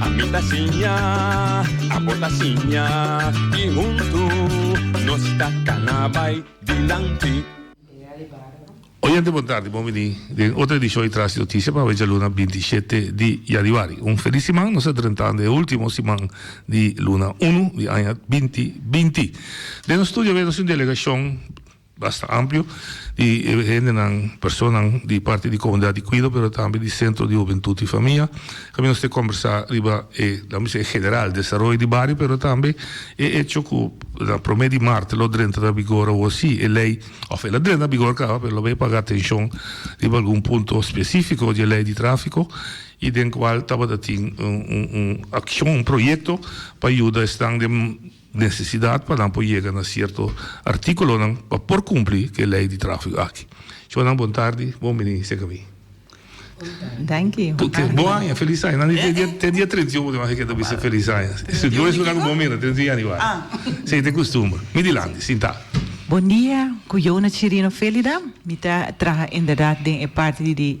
Ami ta siña, abo ta siña, i huntu nos ta kana bai dilanti. Oyente bon tardi, bon biní den otro edishon di Tras di Notisia pa awe djaluna binti i shete di yanuari. Un felis siman, nos a drentando e ultimo siman di luna unu di aña binti binti. Den nos studio awe nos tin un delegashon. Basta amplio di e hendenan, personanan di parti di komunidat di Kwido pero tambe di Sentro di Hubentud i Famia kaminda nos te kombersá riba e lo mester e general desaroyo di bario pero tambe e echo ku ta promé di marte lo drenta ta bigor awo sí e lei òf e lo drenta bigor kaba pero lo bai paga atenshon riba algun punto spesífiko dje lei di tráfiko i den kual tabata tin un un un akshon un proyekto pa yuda esnan den. Nesesidat pa nan por yega na sierto artíkulonan pa por kumpli ku e lei di tráfiko aki. Shownan bon tardi, bon bini serka mi. Danki, bon tardi. Bon aña, felis aña. Nan di te te dia trenta i un bo tin mas hiketa bisa felis aña. Seguro esei nan ku bo mira trenta i un yanuario. Esei ta kustumber. Mi dilanti, sintá. Bon dia ku Jonas Chirino Felida. Mi ta traha inderdat den e parti di di.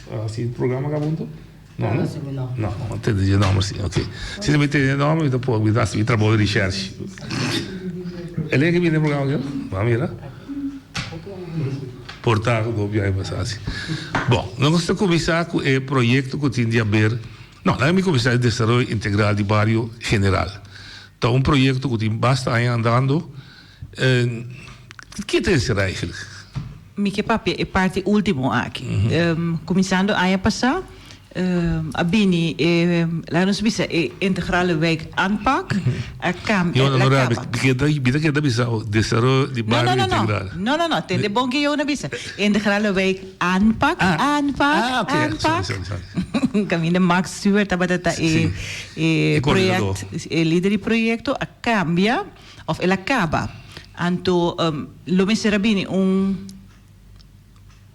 Asi programa ka punto? No, no? No, no tene dje nomber si. Ok. Si no mi tene dje nomber, mi ta por, mi ta hasi mi trabou di recherche. El e ke bini e programa aki no? Bo a mira. Porta ku kopia i basa hasi. Bo, nos ta kuminsá ku e proyekto ku tin di haber, no, laga mi kuminsá di desaroyo integral di bario general. Ta un proyekto ku tin basta aña andando. Ki ta e sera eigenlijk? Mi ke papia e parti ultimo aki. Kuminsando aña pasá a bini e, laga nos bisa e integrale wijk aanpak, a kam, e la kaba. Mi ta keda bisa awo desaroyo di bario integral. No, no, no, tende bon ke yo na bisa. E integrale wijk aanpak, aanpak, aanpak. Kaminda Max Stewart tabata ta e project, e lider di proyekto, a kambia. of el a caba, anto lo mester a bini un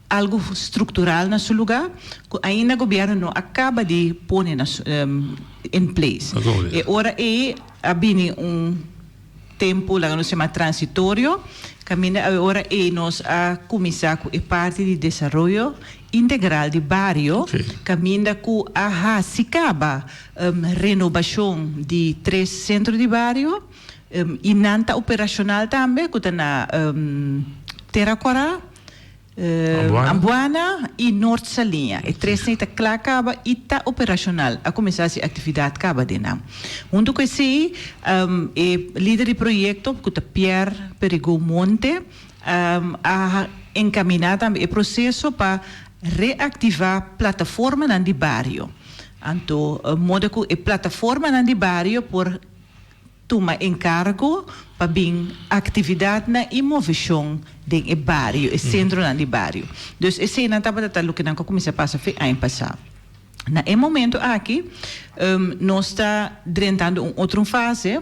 algo structural na su lugar cu ainda gobierno no a caba di pone na su in place. E ora ey a bini un tempo laga nos yama transitorio, caminda e ora ey nos a cuminsa cu e parti di desaroyo integral di bario caminda cu a haci caba renobacion di tres centro di bario y nan ta operacional tambe cu ta na Terra Cuara, Ambuana y Noord Saliña. E tres na y ta cla caba y ta operacional, a cuminsa haci actividad caba den nan. Hunto cu esey e lider di proyecto cu ta Pierre Perigou Monte A encamina tambe e proceso pa reactiva plataformanan di bario. Anto, modo cu e plataformanan di bario por tuma encargo pa bin actividadnan y movecion den e bario, e centronan di bario. Dus eseinan tabata ta loke nan cu a cuminsa pasa fin aña pasa. Na e momento aki nos ta drentando un otro fase,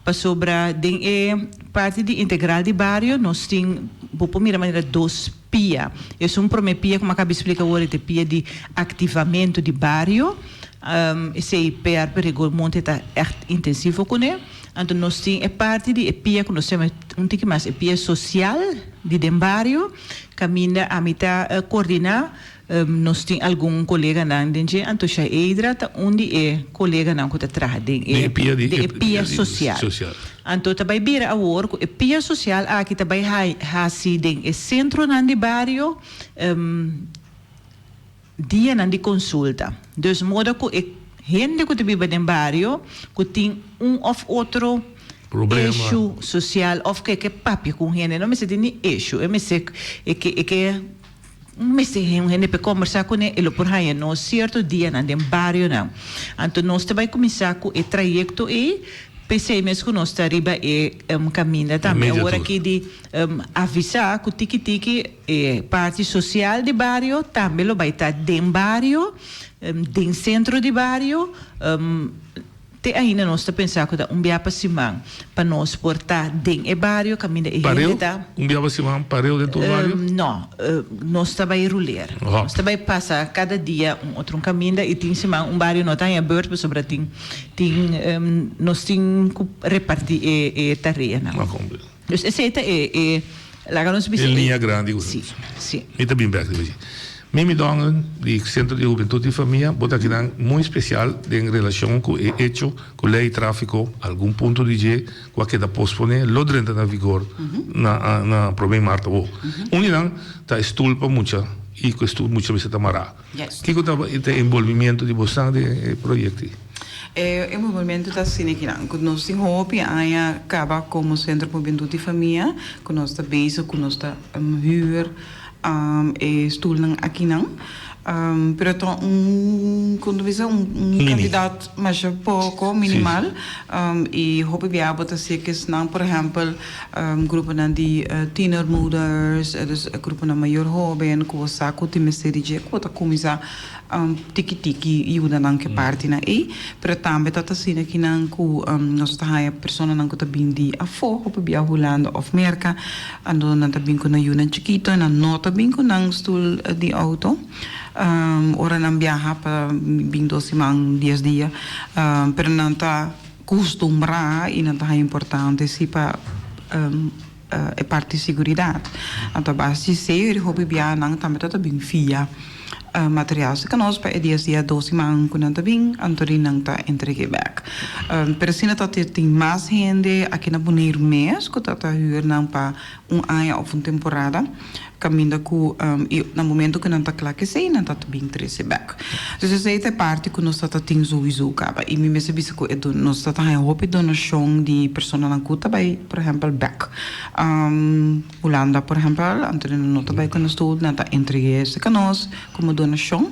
pasobra den e parti di integral di bario nos tin, bo por mira manera dos pia. Esun prome pia, como a caba di splica awor, e ta e pia di activamento di bario, esey PR pa rigor Monte ta echt intensivo cune. Anto nos tin e parti di e pia cu nos ta yaman un tiki mas e pia social di den bario, caminda ami ta coordina Nos tin algun koleganan den dje, anto Shaeidra ta un di e koleganan ku ta traha den e den e pia sosial. Anto ta bai bira awor ku e pia sosial aki ta bai hasi den e sentronan di bario dianan di konsulta. Dus moda ku e hende ku ta biba den bario ku tin un òf otro eshu sosial òf ku e ke papia ku un hende no mester tin ni eshu, e mester e ke e ke mester un hende pa e kombersá kuné, e lo por haña nos sierto dianan den barionan. Anto nos ta bai kuminsá ku e trayekto ei p'esei mes ku nos ta riba e kaminda tambe. E ora aki di avisá ku tiki tiki e parti sosial di bario tambe lo bai ta den bario, den sentro di bario. Te ainda nos ta pensa cu ta un bia pa siman pa nos por ta den e bario caminda e hende ta. Pareu? Un bia pa siman pareu den tur bario? No. Nos ta bay ruler. Nos ta bay pasa cada dia un otro un caminda y tin siman un bario no ta haña beurt pasobra tin tin nos tin cu reparti e tareanan. Dus esei ta e, e, laga nos bisa e. E liña grandi ku nos. Si. Mi ta bin bèk riba dje. Mimi Dongen di Sentro di Hubentut i Famia, bo ta kinan muy spesial den relashon ku e echo ku lei trafiko algun punto di dje ku a keda posponé lo drenta na vigor na, na prome marta awo. Un di nan ta e stulpa mucha i ku e stulpa mucha mester ta mará. Kiko ta e enbolvimentu di boso den e proyekto ei? E enbolvimentu ta asina kinan, ku nos tin hopi aña kaba komo Sentro pa Hubentud di Famia, ku nos ta bezig ku nos ta hür e stulnan akinan, pero ta un, kon ta bisa? Un kantidat masha poko, minimal, i hopi bia abo ta si e ke esnan, por ehèmpel. Gruponan di tienermoeders, dus e gruponan mayor hoben ku bo sa ku tin mester di dje, ku bo ta kuminsá tiki tiki yuda nan ku e parti nan ei. Pero tambe ta ta asina ki nan ku nos ta haña personanan ku ta bin di afó, hopi bia Hulanda òf Merka, anto nan ta bin ku nan yunan chikito, nan no ta bin ku nan stul di outo. Ora nan biaha pa bin dos siman, dies dia, pero nan ta. custumbrá y nan ta haña importante si pa e parti seguridad. Nan ta bas di seo y di hopi biahanan tambe ta ta bin via material si conos pa e dies dia dos siman cu nan ta bin anto di nan ta entreg'e bek. Pero si nan ta tin mas hende aki na Bonaire mes cu ta ta huur nan pa Un aña of un temporada caminda cu y na momento cu nan ta cla cu esey nan ta ta bin trece bek. Dus esey ta e parti cu nos ta ta tin zuwi zuwi caba y mi mester bisa cu e don nos ta ta haya hopi donacion di personanan cu ta bay por ehempel bek Hulanda por ehempel antes di nan no ta bay cu nos tur nan ta entregue esta ca nos como donacion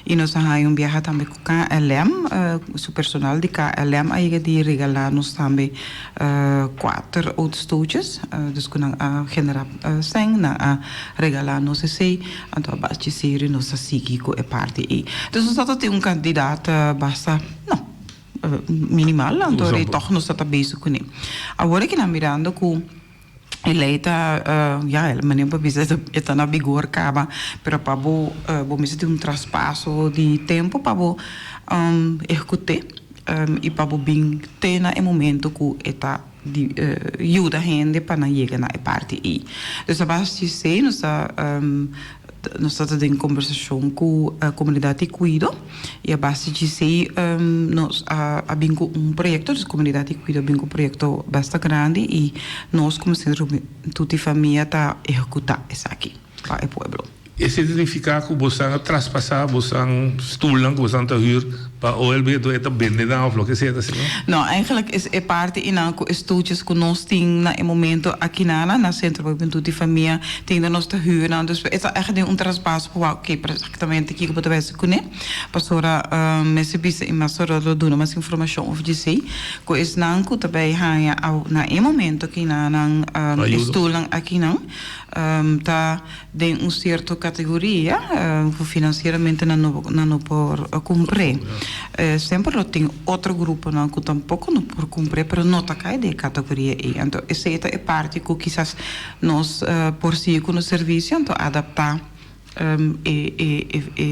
y nos a haya un biaha tambe KLM, su personal di KLM a yega di regalá nos tambe kuater outostootjes, dus ku nan a generá sèn, nan a regalá nos esei, anto a baschi serio nos ta sigui ku e parti ei. Dus nos ta ta tin un kandidat basta nò, minimal, anto rei tòg nos ta ta bezig kuné. Awor aki nan mirando ku. E lei ta ya e manera bo bisa e ta na bigor kaba pero pa bo bo mester tin un traspaso di tempo pa bo ehecute y pa bo bin te na e momento cu e ta di yuda hende pa nan yega na e parti ey. Nos ta bas ci sey nos ta Nos ta ta den kombersashon ku komunidat di kuido i a base di esei nos a bin ku un proyekto. Dus komunidat di kuido a bin ku un proyekto basta grandi i nos komo Senter Ruben Tutti Famia ta ehekutá esaki pa e pueblo. Esei ta nifika ku bosan a traspasá bosan stulnan ku bosan ta hür. Pa oil be to e ta bende nan of loke sea ta si no? No, eigenlijk is e parti inan ku estuches ku nos tin na e momento akina nan na Centro pa Hubentud i Famia tin den nos ta hür nan dus esa eje den un traspaso ku wou oké pero exactamente kiko bo ta bese kuné pasobra mester bisa i mester lo lo duna mas informashon of djisei ku esnan ku ta bei haña awo na e momento akina nan e stulnan akinan ta den un sierto kategoria ku finansieramente nan no nan no por kumpré semper lo tin otro gruponan ku tampoko no por kumpré pero no ta kai den e katagoria ei anto esei ta e parti ku kisas nos por sigui ku nos servisio anto adaptá e e e e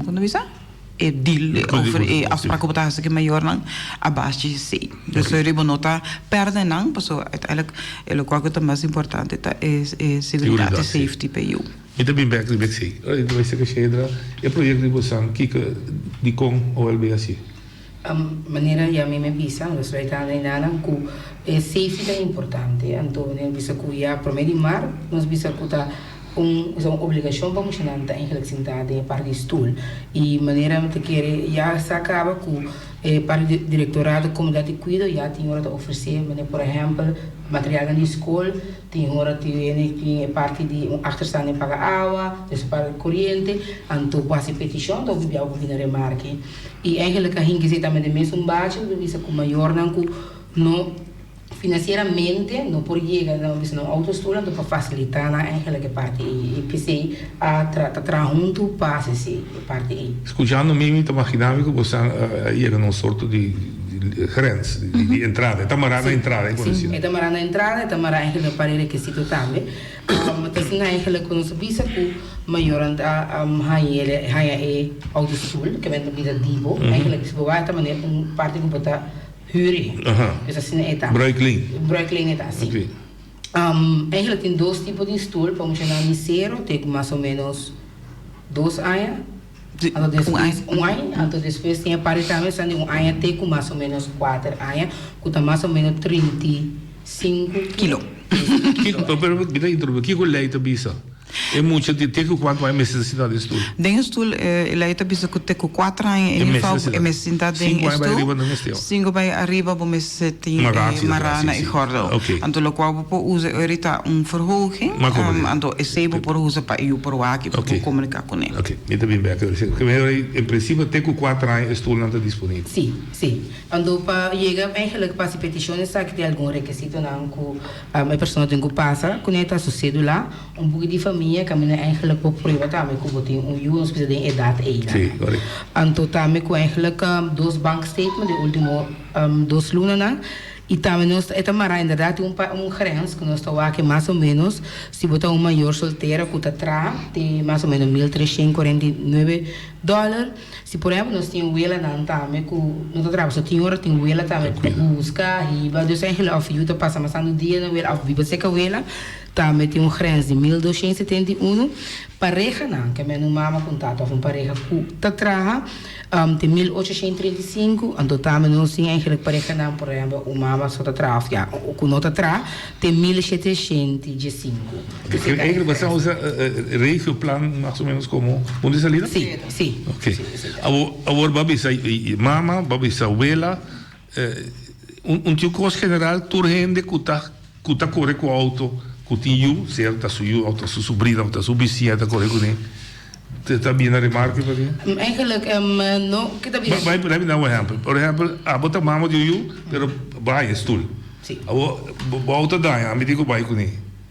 kunda bisa. e deal of e afspraak ku bo ta hasi ku e mayornan a bas chi esei. Dus loy di bo no ta pèrdè nan, paso uiteindelik e lokal ku ta mas importante ta e e seguridat, e safety pa yu. Mi ta bin bèk riba esei. Orait, Vice Secretaria General, e proyekto di bosan kiko, dikon OLB hasi? Manera ya mimi a bisa, nos bai ta anda enanan ku e safety ta importante. Anto mimi a bisa ku ya prome di mar, nos bisa ku ta un esa un obligashon pa mushanan ta eigenlijk sintá den e parti di stul. I manera mi ta kere ya sa kaba ku e parti di direktorato komunidat di kuido ya tin ora ta ofresé manera por ehèmpel materialnan di skol, tin ora ti wene tin e parti di un achterstand den paga awa, den su parti di koriente. Anto ku hasi petishon ta hopi bia bo hopi na remarke. I eigenlik a hinka esei tambe den mes un bachi, lo ta bisa ku mayornan ku no finansieramente no por yega na lo bisa na un autoestudio anto pa fasilitá nan eigenlik e parti ei. I p'esei a tra ta traha huntu pa hasi si e parti ei. Skuchando mi, mi ta maginami ku bo sa a yega na un sorto di di grens di entrada. E ta mará na entrada, e por disi. Si, e ta mará na entrada, e ta mará eigenlik na un par di rekisito tambe. Tabata ta sin haña kila ku nos a bisa ku mayoran ta haña e outo sul, ke men ta bira divo. Haña kila bis bo bai ta manera un parti ku bo ta hür e. Pues asina e ta. Bruikleen. Bruikleen e ta si. Haña kila tin dos tipo di stol pa muchanan di sero te ku mas o menos dos aña. Despues un aña, anto despues tin e pari tambe esan di un aña te ku mas o menos kuater aña, ku ta mas o menos trinti sinku kilo. Kiko lei ta bisa e mucha di te ku kuantu aña mester ta sinta den stul? Den e stul e lei ta bisa ku te ku kuater aña e nivou e mester sinta den e stul, sinku bai ariba bo mester tin e mará na e gòrdel. Anto lokual bo por usa oir i ta un verhoging, anto esei bo por usa pa e yu por wak i bo por komunika. kuné. Ok, mi ta bin bèk recién. Ke manera ei, en prinsipio te ku kuater aña e stulnan ta disponibel? Sí, sí. Anto pa yega eigenlik pa si petishon esaki tin algun rekesitonan ku e persona tin ku pasa, kuné ta su sédula, un buki di famia, kaminda eigenlik bo prueba tambe ku bo tin un yu, nos bisa den edat ei nan. Sí, korekto. Anto tambe ku eigenlik dos bankstatement di último dos lunanan. Y tambe nos ta e ta mara inderdat tin un pa un grens cu nos ta wak ke mas o menos si bo ta un mayor soltera cu ta tra te mas o menos mil treshen y cuarenta y nuebe dollar. Si por ehempel nos tin welanan tambe cu no ta traba so tin ora tin wela tambe cu busca hiba dos engele of yu ta pasa masando dia na wela of biba seca wela tambe tin un grens di mil doshen setenta y uno. Parehanan, ke mende un mama cu un tata of un pareha cu ta traha. Tin mil ocho sient treinta i sinku, anto tambe nos tin eigenlik parehanan, por ehempel, un mama so ta traha of ya ku no ta traha, te mil sete sient i dies sinku. Te keda enkel basado esa regio, plan, mas o menos komo punto di salida? Si, si. Ok. Awor ba bisa mama, ba bisa wela. Un tin kos general, tur hende ku ta ku ta kore ku outo ku tin yu, sea ta su yu, ta su subrina òf ta su bisia ta kore kuné, ta bini na remarke pa mi? Eigenlijk no, ke ta bini? Bai bai mi da un ehèmpel. Por ehèmpel, abo ta mama di un yu, pero bai e stul. Si. Bo outo ta daña, mi tin ku bai kuné.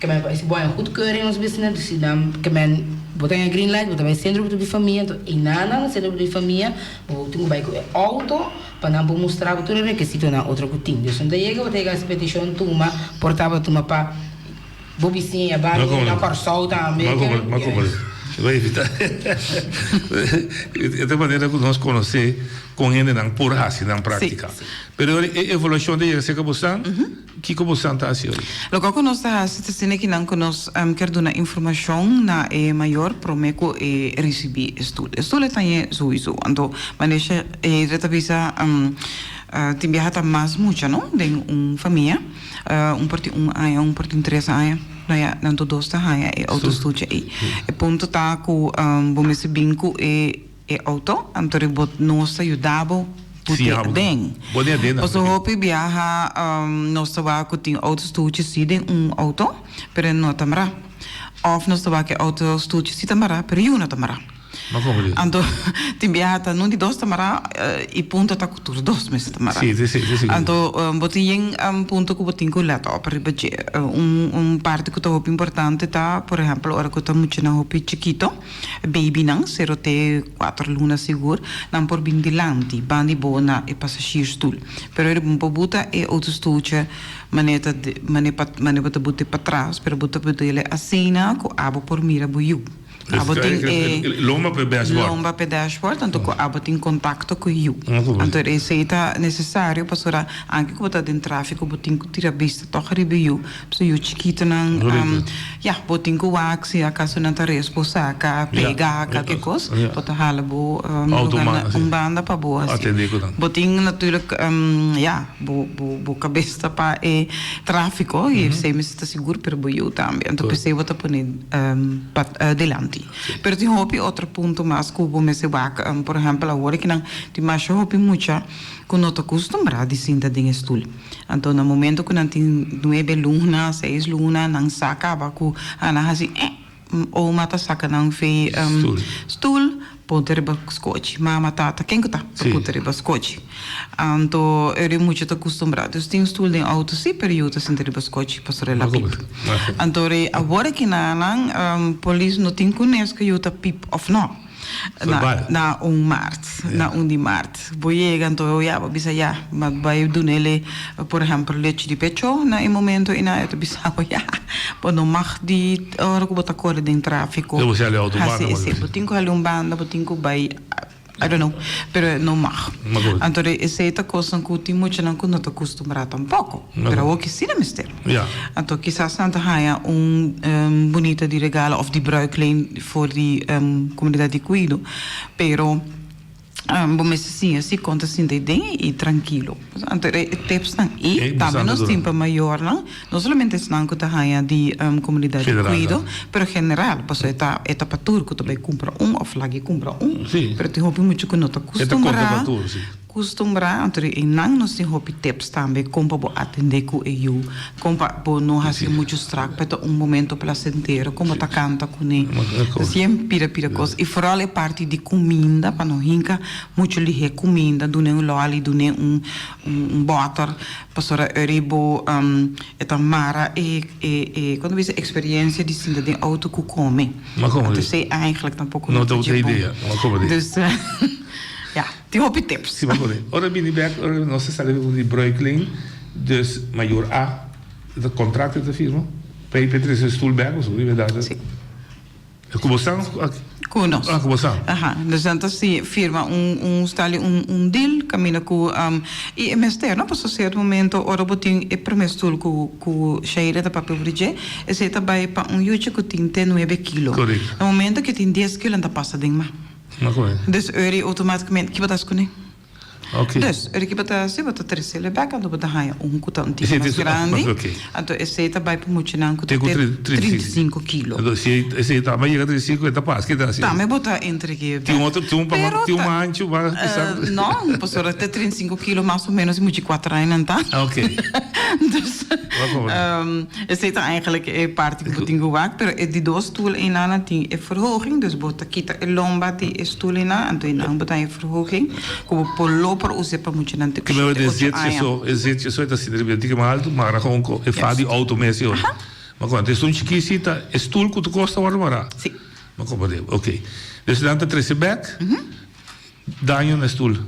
Kman pa isi boña goedkeuring nos bisnis na deci nan kman bo ta ña green light bo ta bai centro butubi famia enton enan nan na centro butubi famia bo tin cu bai cu e auto pa nan por mustra bo tur e requisitonan otro cu tin dioso nan ta yega bo ta yega hasi peticion tuma por tabata tuma pa bo bisiña ya bai mi na Corsou tambe ma cobra ma cobra e bai evita e ta manera cu nos conoce con hendenan por hasi nan practica pero e evaluacion ta yega cerca bo san. Kiko bosan ta hasi oye? Loke ku nos ta hasi ta sende kinan ku nos ker duna informashon na e mayor prome ku e risibí e stul. E stul e tañ'é suisu. Anto manesha Heidre ta bisa, Tin biaha ta mas mucha no den un famia. Un por tin un aña, un por tin tres aña. No ya, nan tur dos ta haña e outo stultje ei. E punto ta ku bo mester bin ku e E auto, anto di bo nos ta yuda bo put'e aden. Paso hopi biaha nos ta wak ku tin auto stuchi si den un auto, pero no ta mará. Òf nos ta wak e auto stuchi si ta mará, pero yu no ta mará. Anto tin biaha ta nun di dos ta mará i punto ta ku tur dos mester ta mará. Anto bo tin yen un punto ku bo tin ku lèt òp riba dje. Un parti ku ta hopi importante ta, por ehèmpel ora ku ta muchanan hopi chikito. Babynan, sero te kuater luna sigur, nan por bin dilanti, ban di bo na e pasashierstoel. Pero e riba bo buta e outostoeltje maneta de mane pa mane bo ta bute patras, pero bo ta budele asina ku abo por mira bo yu. Abo tin e Lomba pa e dashboard. lomba pa e dashboard, anto ku abo tin kontakto ku e yu. Anto esei ta nesesario pasobra anke ku bo ta den trafiko bo tin ku tira bista tòg riba e yu. Su yu chikitunan, ya, bo tin ku wak si akaso nan ta respo saka, pega, kalke kos, bo ta hala bo lugar un banda pa bo hasi. Bo tin naturlik, ya, bo kabes ta pa e trafiko i esei mester ta sigur, pero bo yu tambe. Anto p'esei bo ta pone pa dilanti. Pero tin hopi otro punto mas ku bo mester wak. Por ehèmpel, awor ki nan tin masha hopi mucha ku no ta kustumbrá di sinta den e stul. Anto na momento cu nan tin nuebe luna, seis luna, nan sa caba cu Ana haci eh, oma ta saca nan fe stoel, ponte riba scochi. Mama, tata, ken cu ta por punte riba scochi? Anto ero e mucha ta custumbrado, dus tin stoel den auto, si, pero yu ta sinti riba scochi pasobra el a pip. Anto awor aki na nan polis no tin cu nesco yu ta pip of no. Sabat. Na un mart, na un di mart. Bo yega anto bo ya, bo bisa ya, bo bai dunele por ehempel lech di pecho na e momento ina. Yo ta bisa bo ya, bo no mag di ora ku bo ta kore den trafiko hasi esei. Bo tin ku hali un banda, bo tin ku bai, I don't know, pero no mag. Anto esei ta kosnan ku tin muchanan ku no ta akustumbrá tampoko, pero awoke si nan mester. Anto kisas nan ta haña un bunita di regalo òf di brùikleen for di komunidat di Kwilu. Pero bo mester siña si kon ta sinta e den i trankilo. Anto e tipsnan i tambe nos tin pa mayornan, no solamente esnan ku ta haña di komunidat di Kwilu, pero general, pasobra e ta e ta pa tur ku ta bai kumpra un òf lag'e kumpra un. Pero tin hopi mucha ku no ta kustumbrá. Custumbrá, anto di eynan nos tin hopi tips tambe con pa bo atendé cu e yu, con pa bo no haci mucho strak, pa e ta un momento placentero, como ta canta cuné. Entonces yen pida pida cos y foral e parti di cuminda, pa no hinca mucho lihé cuminda, dun'é un loli, dun'é un un boter, pasobra eri bo e ta mara e e e con ta bisa experiencia di sinta den auto cu come, anto esey eigenlijk tampoco no ta dje bon. Dus ya. Tin hopi tips. Si mamá Rey. Ora bini bek, ora nos ta sali di Breuklin, dus Mayor A, e contrato e ta firma, p'ey p'e trese e stoel bek pasobra di berdad e. Si. E ku bo san aki? Ku nos. Ah, ku bo san. Aha. Dus nan ta si firma un, un stali un, un deal kaminda ku, i e mester, no? Paso cierto momento ora bo tin e prome stoel ku, ku Sheila ta papia over dje, esey ta bay pa un yuchi ku tin te nuebe kilo. Correcto. Na momento ke tin dies kilo nan ta pasa den ma. Dus ora i automaticamente kiba ta scone? Dus ora kiba ta así bo ta trecele bek anto bo ta haya un cu ta un tiki mas grandi, anto esey ta bay pa muchanan cu ta te trinta i cinco kilo. Anto si esey dama yega trinta i cinco e ta pas ki ta así. Tambe bo ta entregue bek. Tin otro tin un pa tin un ancho pa pisa. No pasobra ta te trinta i cinco kilo mas o menos e mucha cuatrainan ta. Dus esey ta eigenlijk e parti cu bo tin cu wak pero e di dos stoel eynana tin e verhoging dus bo. Kita e lomba di e stulinan, anto e nan bo ta e verhoging ku bo por lo por us'é pa muchanan di Kibera di e zitje so? E zitje so e ta sinti riba e tiki maltu, mara kon ku e fa di outo mes e ora. Ma kuantu e sun chikí si ta e stul ku ta kosta wòrdu mará? Ma komo riba. Oke. Esnan ta trese bèk. Daño n'e stoel.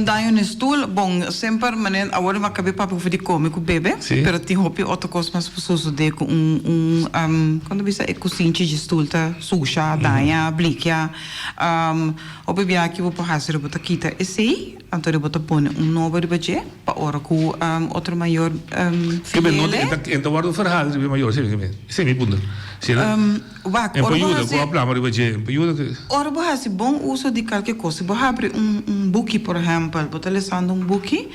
Daño n'e stoel, bon, semper manera awor lo maka be pape hopi di come cu bebe, pero tin hopi otro cos mas por sucede cu un, un, con ta bisa e cosinchi dje stoel ta sucia, daña, blikia, hopi bia cu bo por haci ora bo ta kita esey, anto bo ta pone un nobo riba dje pa ora cu otro mayor. Kebe no ta, e ta wordo verhaal riba e mayor, esey mi punta. Wak, ora bo hasi, ora bo hasi bon uso di kalke kos, bo habri un un buki por ehèmpel, bo ta lesando un buki,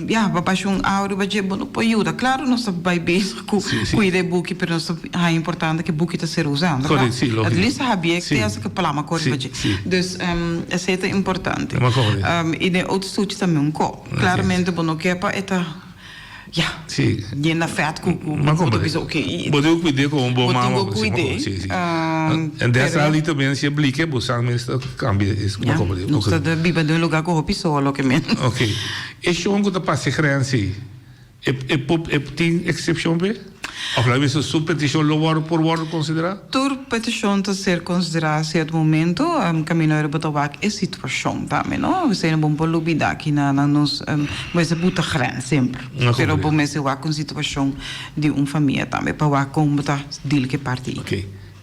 ya, bo basha un audio riba dje, bo no por yuda. Klaru nos ta bai bezig ku kuida e buki, pero nos ta haña importante ku e buki ta ser usá, bèrdá? At least habiek te asa ku plama kor riba dje. Dus, esei ta importante. I den oto stuchi tambe un kòp. Klaramente bo no ke pa e ta. Ya. Si. Dje na fèt ku ku Bo ta bisa oke i. Bo debe kuid'é komo bo mama. Bo tingo kuid'é. Si, si. Pero. Den sa ali tambe nan siña blik'é bo sa mes ta kambia es makoko di. Ya. Nos ta biba den un lugá ku hopi sol oke men. Oke. E shon ku ta pas'é grens ei, e e por tin eksepshon p'e? Of la bisto su peticion lo worde por worde considera? Tur peticion ta ser considera si e ta momento, camino ayer bo ta wak e situacion tambe, no? Esey no bo no por lubida aki na nos bo mester buta grens semper, pero bo mester wak un situacion di un famia tambe pa wak con bo ta deal cu e parti ey.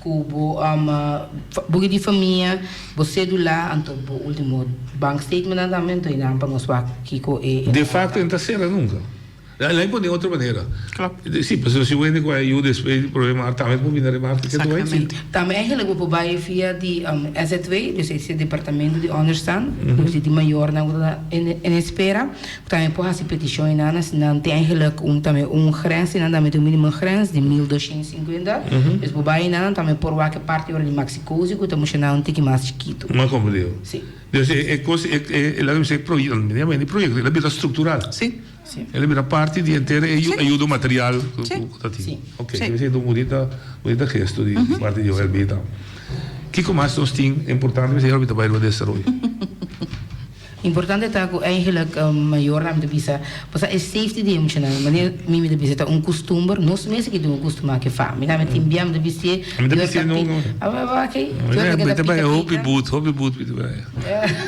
Ku bo ama buki di famia, bo sedula, anto bo ultimo bank statementnan tambe, anto e nan pa nos wak kiko e e. De facto e no ta sera nunka. Laat mi pone otro manera. Si, pasobra si Wendy ku a e yu despues di problema hartament bo bini riba Africa ta bai si. Tambe eigenlijk bo por bai via di SZW, dus esei Departamento di Onderstand, dus esei di mayornan ku ta en espera. Kan e por hasi petishon enanas, nan tin eigenlijk un tambe un grens di nan tambe tin un minimum grens di mil doshiens sinkuenta. Pues bo bai enanan tambe por wak e parti ora di maxi cozy ku ta musha nan un tiki mas chikitu. Mas komplido. Si. Diosa e e kos e e e laga mi se proye mi a wende proyekto el a bira struktural. Si. Si. El a bira parti di entera e Si. ayudo material ku Si. ku ta tin. Si. Ok, Si. diosa e ta un bonita bonita gesto di parti di OLB tambe. Kiko mas nos tin importante mi siñor mi ta bai riba desaroyo? Importante ta ku eigenlik mayor nan mi ta bisa pasá e safety di e mushanan manera mi mi ta bisa ta un kustumber nos mes a kitu un kustumber aki fa mi nan mi ta timbiá mi ta bistié dios ta pi aba aba aki dios ta keda pika pika hopi but mi ta bay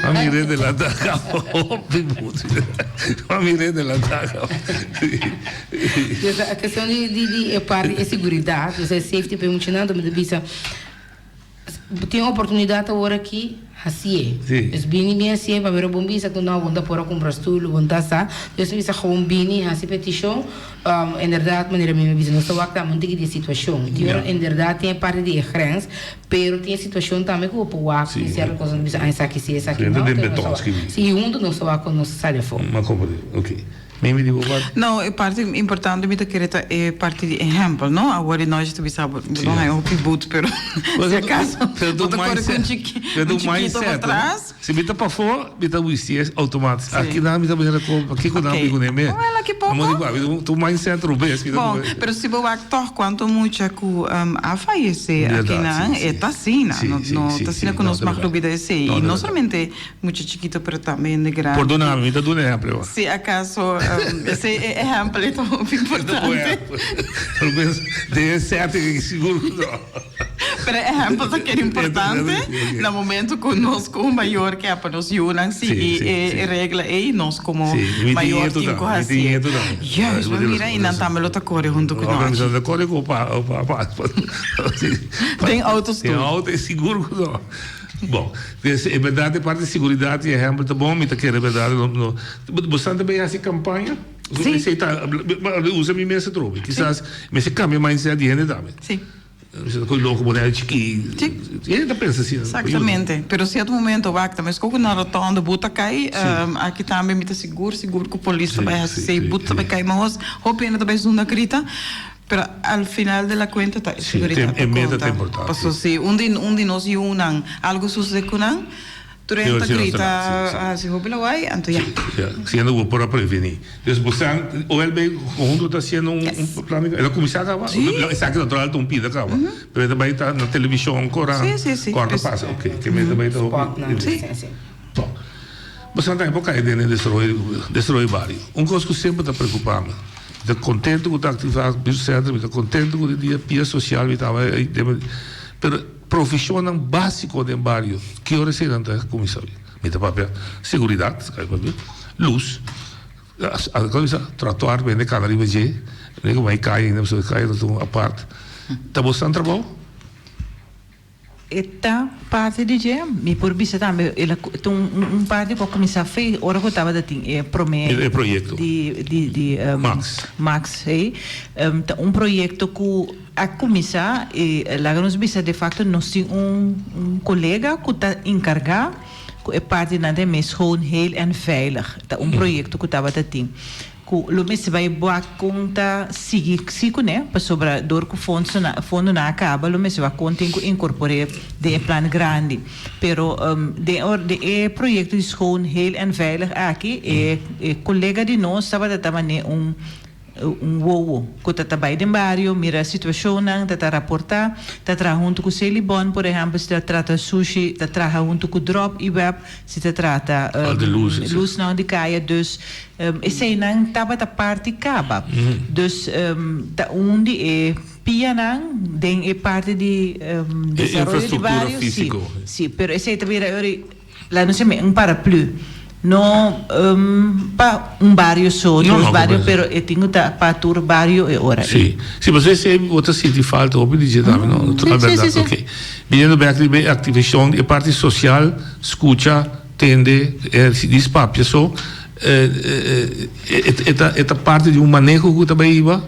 man mi ret delanta kaba hopi but man mi ret delanta kaba entonces a keston di di di e parti e siguridad o sea e safety pa e mushanan mi ta bisa. Bo tin oportunidat awor aki, hasié. Pues bini bin hasié, pamero bon bisa ku nau, bon ta por a kumpra stul, lo bon ta sa. Dios a bisa ghon bini, hasi petishon. Inderdat, manera mi a bisa, nos ta wak tambe un tiki di e situashon. Tin ora inderdat tin e parti di e grens, pero tin e situashon tambe ku bo por wak tin sierto kos, nos ta bisa, ah esaki si, esaki nau, pero nos ta wak. Si huntu nos ta wak kon nos sali afó. Mimi di bo pa. No, e parti importante mi ta kere ta e parti di ehempel, no? Awor di nochi ta bisa bo bo no haya hopi buts pero si acaso bo ta corre cu un chiquito pa tras. Si mi ta pafo mi ta wisti es automatisch. Aki nan mi ta bira con pakico nan mi cunemi. Well aki poco. Amo di bo aki tu mindset robes. Bon, pero si bo wak toh cuanto mucha cu a fayece aki nan e ta asina. No ta asina cu nos mag lo bida esey. Y no solamente Mucha chikito pero tambe hende grandi. Por duna mi ta duna ehempel e oa. Si acaso esey e ehempel e ta hopi importante. Por lo menos den e setting aki sigur cu no. Pero e ehempel ta keda importante na momento cu nos como mayor keda pa nos yunan sigui e regla ey y nos como mayor tin cu haci. Juist bo mira y nan tambe lo ta core hunto cu nos. Lo ta core cu opa. Den auto stoer. Den auto e sigur cu no. Bon, si e berdad di parti siguridad y ehempel ta bon, mi ta kere berdad di lo. Bo san tambe hasi campaña? Si. Esey ta, a usa mi mes atrobe. Kisas mester cambia mindset di hende tambe. Si. Mi ta coge loco bonaire chikí. Si. E hende ta pensa asina. Exactamente. Pero cierto momento wak ta mester coge na rotonde, bo ta cay. Si. Aki tambe mi ta sigur, sigur cu polis ta bay hasi esey. Bo ta bay cay maos. Hopi hende ta bay zunda crita. Pero al final de la cuenta ta e seguridad cu conta, paso si un di un di nos yiunan algo sucede cu nan, tur hende ta grita hasi hopi lawai, anto ya. Ya, si hende wou por a preveni. Des busan OLB conjunto ta haciendo un plan di, el a cuminsa caba? Lo esaki natural ta un pida caba, pero e ta bay ta na television, coran, cor ta pasa, ok, kende ta bay ta hopi. Tò, Bosanta ke por kai den e destroye bario. Un kos ku semper ta preokupa mi. Mi ta kontento ku ta aktiva Buurt Sentrum, mi ta kontento ku den dia pia sosial mi taba ei den bario. Pero provishonnan básiko den bario, ki ora eseinan ta kuminsá bin? Mi ta papia seguridat, lus, trotuar mende kanda riba dje, mi no ke mai kai ainda pasobra e kai ta un apart. Ta Bosanta trabou? E ta parti di dje. Mi por bisa tambe el a ta un parti cu a cuminsa fe ora cu e tabata tin e prome proyecto di Max. Ey ta un proyecto cu a cuminsa y laga nos bisa defacto nos tin un colega cu ta encarga cu e partinan ta e mes schoon, heel en veilig. Ta un proyecto cu tabata tin. cu lo mester bay boa conta sigui si cu ne, pasobra dor cu fonsonan, fondonan a caba, lo mester bay conten cu incorpore den e plan grandi. Pero den or den e proyecto di schoon, heel en veilig aki, e e colega di nos tabata ta mane un un wowo cu ta ta bay den bario, mira situacionnan, ta ta raporta, ta traha hunto cu Celibon, por ehempel, si ta trata sushi, ta traha hunto cu Drop y Web, si ta trata luznan di caya, dus. Eseinan tabata parti kaba. Dus ta un di e pianan den e parti di desaroyo di bario, si. Si, pero esei ta bira yori, la nos seme, un paraplu. No pa un bario so, dos bario, pero e tin ku ta pa tur bario e ora ei. Si, pasobra esei bo ta sinti falta hopi di dje tambe, no? Berdad? Ok. Biniendo bèk riba e aktivashon, e parti sosial skucha. Tende di es papia so e ta parti di un maneho ku ta bai riba?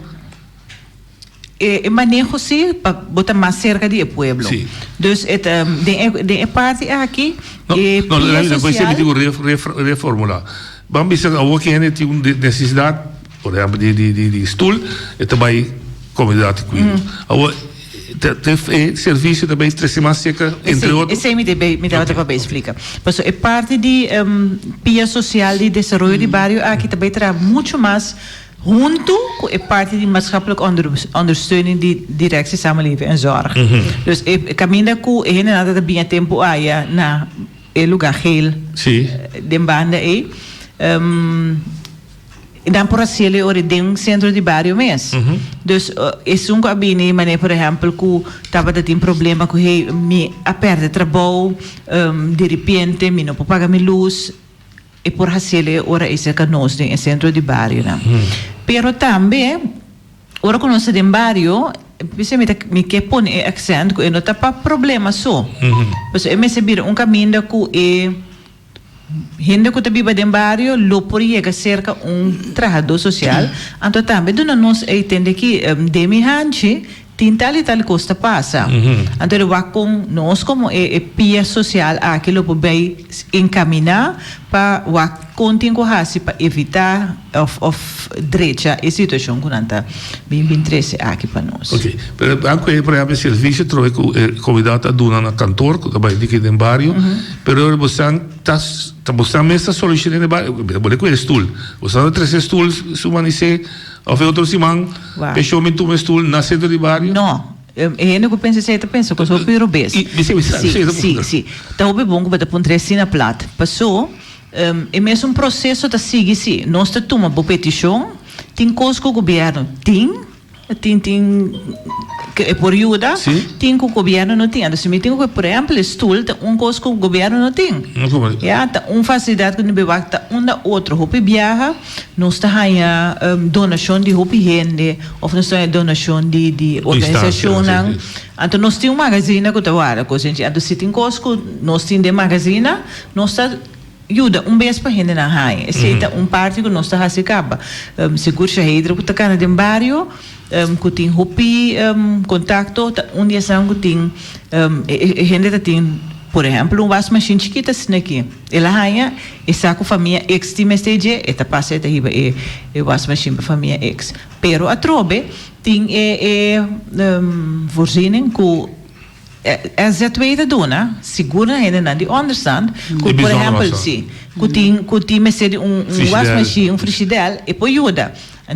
E maneho si, pa bo ta mas serka di e pueblo. Dus e ta den e parti aki e pia sosial. Bo a bisa mi tin ku reformula. Bo a bisa awo ku hende tin un nesesidat. Por ehempel di di stoel e ta bay comunidad di cuido awo e servicio ta bay tres siman seca entre otro. Esey esey mi ta bay mi ta bay bay explica paso e parti di pia social di desaroyo di bario aki ta bay traha mucho mas hunto cu e parti di maatschapelijk ondersteuning di directie samenleving en zorg dus e caminda cu e hende nan ta bini a tempo aya na e lugar geel den banda ey. Nan por haciel e ora den un centro di bario mes. Dus esun cu a bini mane por ehempel cu tabata tin problema cu hey mi a perde trabou diripiente mi no por paga mi luz e por haciel e ora ey cerca nos den e centro di bario nan. Pero tambe ora cu nos ta den bario p'esei mi ke pone e accent cu e no ta pa problema so pasobra e mester bira un caminda cu e Hende ku ta biba den bario lo por yega serka un trahadó sosial, anto tambe duna nos ei tende ki den mi hanchi tin tal i tal kos ta pasa. Anto lo wak kon nos komo e e pia sosial aki lo por bai enkaminá pa wak kon tin ku hasi pa evitá. Of of drecha e situacion cu nan ta bin bin trece aki pa nos. Ok, pero nan cu e por ehemplo e servicio trohe cu e comunidad ta duna na kantoor cu ta bay diki den bario, pero ora bosan ta ta bosan mes ta soluciona e bario, bo bo ley cu e stoel, bosan ta trece e stoel su manisee of e otro siman Wak. p'e show mi tuma e stoel na centro di bario? No, e e hende cu pensa esey ta pensa cosa hopi robes. Y mi si mi sa, si, si, si, si, ta hopi bon cu bo ta pon tre asina plat, paso. E mesun proseso ta sigui si nos ta tuma bo petishon. Tin kos ku gobièrnu tin, tin, tin ku e por yuda. Sí. Tin ku gobièrnu no tin. Anto mi tin hopi, por ehèmpel, e stul ta un kos ku gobièrnu no tin. No ku bai. Ya, ta un fasilidat ku no debe wakta unda otro. Hopi biaha nos ta haña donashon di hopi hende òf nos ta haña donashon di, di organisashonnan. Instansianan, si. Anto nos tin un magasina ku ta warda kos den dje. Anto si tin kos ku nos tin den magasina, Nos ta yuda un bes pa hendenan haña. Esei ta un parti ku nos ta hasi kaba. Sigur Shahedra ku ta kana den bario, ku tin hopi kontakto, ta un di esnan ku tin, e hende ta tin, por ehèmpel, un was mashin chikit asina aki. El a haña e sa ku famia eks tin mester dje, e ta pasa e ta hiba e was mashin pa famia eks. Pero atrobe tin e voorziening ku. SZW ta duna sigur na hendenan di Onderzand ku por ehèmpel si ku tin ku tin mester di un un washmashi un frishidèr e por yuda.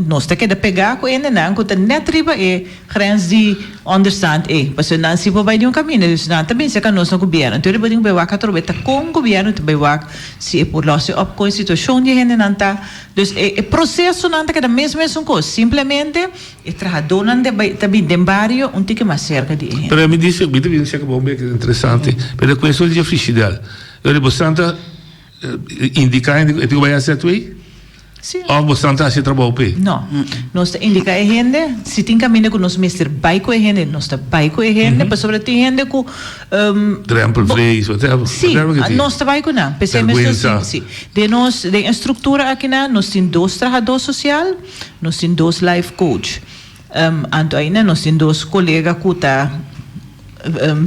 Nos ta keda pegá ku e hendenan ku ta nèt riba e grens di Onderzand ei pasobra nan si por bai den un kaminda si nan ta binse aka nos na gobièrnu enton riba di un bai wak atrobe ta kon gobièrnu ta bai wak si e por lòs e òp kon e situashon di e hendenan ta. Dus e prosesonan ta keda mesun mesun kos simplemente. E trahadónan ta bini den bario un tiki mas serka di e hende. Pero mi dice, mi ta bini cheka bo un bek interesante, pero e cuesto di e frigider, lo di bosan ta indica hende cu e tin cu bay hacer tu ey? Si. Of bosan ta haci e trabao p'e? No. Nos ta indica e hende, si tin caminda cu nos mester bay cu e hende, nos ta bay cu e hende, pasobra tin hende cu Drempel vrees, whatever, whatever cu tin. Si, nos ta bay cu nan. P'esei meston si, si. Den nos, den e structura aki nan, nos tin dos trahadó social. Nos tin dos life coach. Anto ainda nos tin dos colega cu ta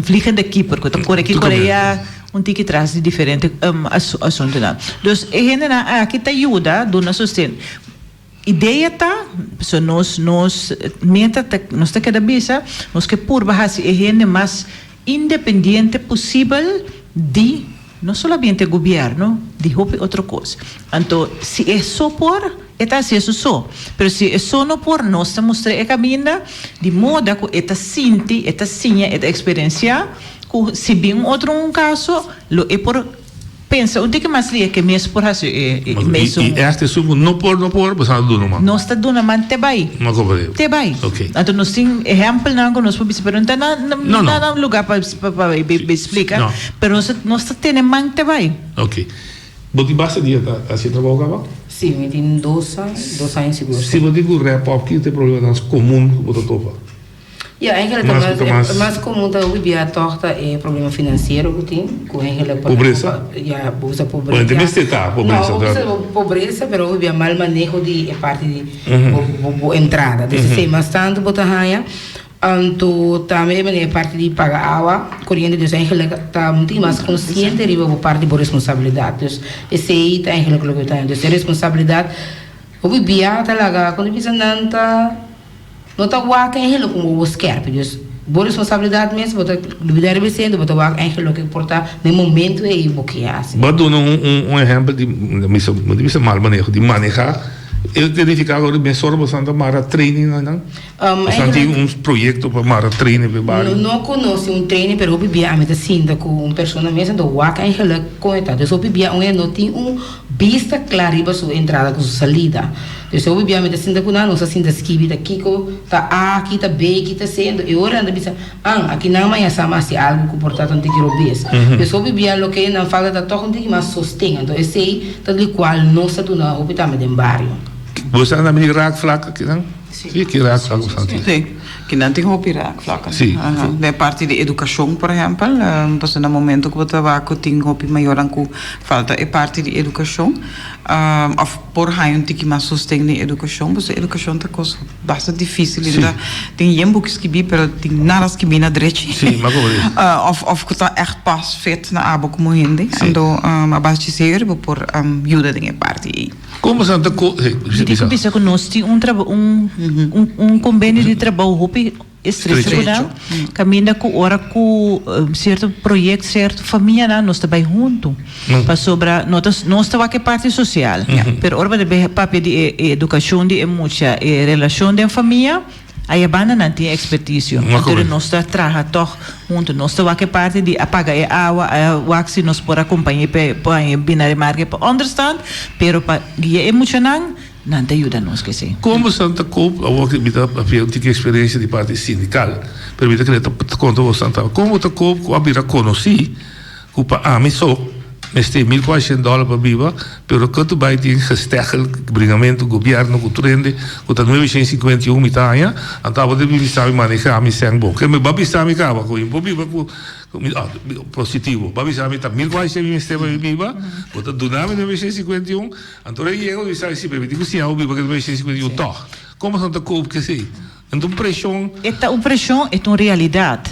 vliegende keeper, cu ta core aki core allá, un tiki tras di diferente asuntonan. Dus e hendenan aki ta yuda duna sosten. Idea ta, pasobra nos nos meta ta nos ta keda bisa nos ke purba haci e hende mas. Independiente posibel di no solamente gobierno, di hopi otro cos. Anto si e so por, e ta hacié su so. Pero si e so no por, nos ta mustr'é e caminda di moda cu e ta sinti, e ta siña, e ta experienciá cu si bin un otro un caso lo e por. Pensa, un tiki mas lia ke mes por hasi e mesun. I eft esun ku no por, no por, bo sa ta duna man. Nos ta duna man te bai. No a koper'é. Te bai. Ok. Anto nos tin ehèmpelnan ku nos por bisa, pero no ta na, no, no ta na lugá pa bai splika. No. Pero nos ta, nos ta tene man te bai. Ok. Bo tin basta dia ta hasi e trabou kaba? Si, mi tin dos an, dos aña sigur si. Si bo tin ku rèp òf, kiko ta e problemanan komun ku bo ta topa? Ya, engelek ta mas, e mas komun ta hopi bia tòg ta e problema finansiero ku tin, ku engelek por preokupa. Pobresa? Ya, bo bisa pobresa. Bueno, ta mester ta pobresa. No, bo bisa pobresa, pero hopi bia mal maneho di e parti di bo, bo entrada. Des esei mas tantu bo ta haña. Anto tambe e manera e parti di paga awa, koriente. Dus engelek ta un tin mas konsiente riba bo parti di bo responsabilidat. Dus esei ta engelek loke bo ta haña. Dus e responsabilidat hopi bia ta laga, kundo bisa nan ta. No ta wak angelo ku bo bo skèrpi. Dus, bo responsabilidat mes, bo ta dubidá riba esei, anto bo ta wak angelo loke portá na e momentu ei bo ke hasi. Bo a duna un un ehèmpel di, ta bisa, no ta bisa mal maneho, di manehá e tenifikador di mes. Sòru boso nan ta mara training na nan? Boso nan tin un proyekto pa mara training pa e bario? No konoshe un training, pero hopi bia ami ta sinta ku un persona mes anto wak angelo kon e ta. Dus hopi bia un e no tin un. Bista kla riba su entrada ku su salida. Pues hopi bia mi ta sinta ku nan, nos a sinta skibi ta kiko ta aki, ta be, ki ta se. Enton e ora nan ta bisa, An, aki nan maya sa mas di algu ku por trata un tiki robes. Pues hopi bia loke nan falta ta tòg un tiki mas sosten. Enton esei ta di kual nos ta duna hopi tambe den bario. Bo sa na mira raakvlak akinan? Si, ki raakvlak bo sa na tin? Ki nan tin hopi rèk flòk. Sí. Den parti di edukashon, por ehèmpel, pasobra nan momentu ku bo trabá ku tin hopi mayornan ku falta e parti di edukashon, òf por haña un tiki mas sosten den edukashon, pasobra edukashon ta kos basta difísil ainda. Tin yen buki skibí, pero tin nada skibí na drechi. Sí, m'a komo di. Òf òf ku ta ègt pas fit na abo komo hende. Anto, a base di esei ora bo por yuda den e parti ei. Como esnan ta co hey, Yo tin cu bisa cu nos tin un traba un un un conbenio di trabou hopi estrecho cu nan caminda cu ora cu cierto project cierto famianan nos ta bay hunto pasobra no ta nos ta wak e parti social pero ora bo ta bay papia di e e educacion di e mucha e relacion den famia Ayabanda nan tin experticio, antori nos ta traha tog huntu. Nos ta wak e parti di a paga e awa, a wak si nos por a compañe pa e por haña bina remarca e por understand, pero pa guia e muchanan, nan ta yuda nos cu esey. Con bosonan ta cope awor cu mi ta papia un tiki experiencia di parti sindical, pero mi ta kere ta conta bosonan tambe con bo ta cope cu a bira conoci, Cu pa ami so, mester mil cuatrocientos dola pa biba, pero cut to bay tin gesteggel, bringamento, gobierno cu tur hende cu ta nuebecientos y cincuenta y un mi ta aña, anto abo debe bista mi maneha mi cen bo. Kende ba bista mi caba cu mi por biba cu mi positivo, ba bisa mi ta mil cuatrocientos mi mester pa mi biba, bo ta duna mi nuebecientos y cincuenta y un, anto ora e yega bo ta bisa mi si permiti cu siña bo biba cu e nuebecientos y cincuenta y un, toh. Como asina bo ta coop cu esey? E ta un preshon. E ta un preshon, e ta un realidat.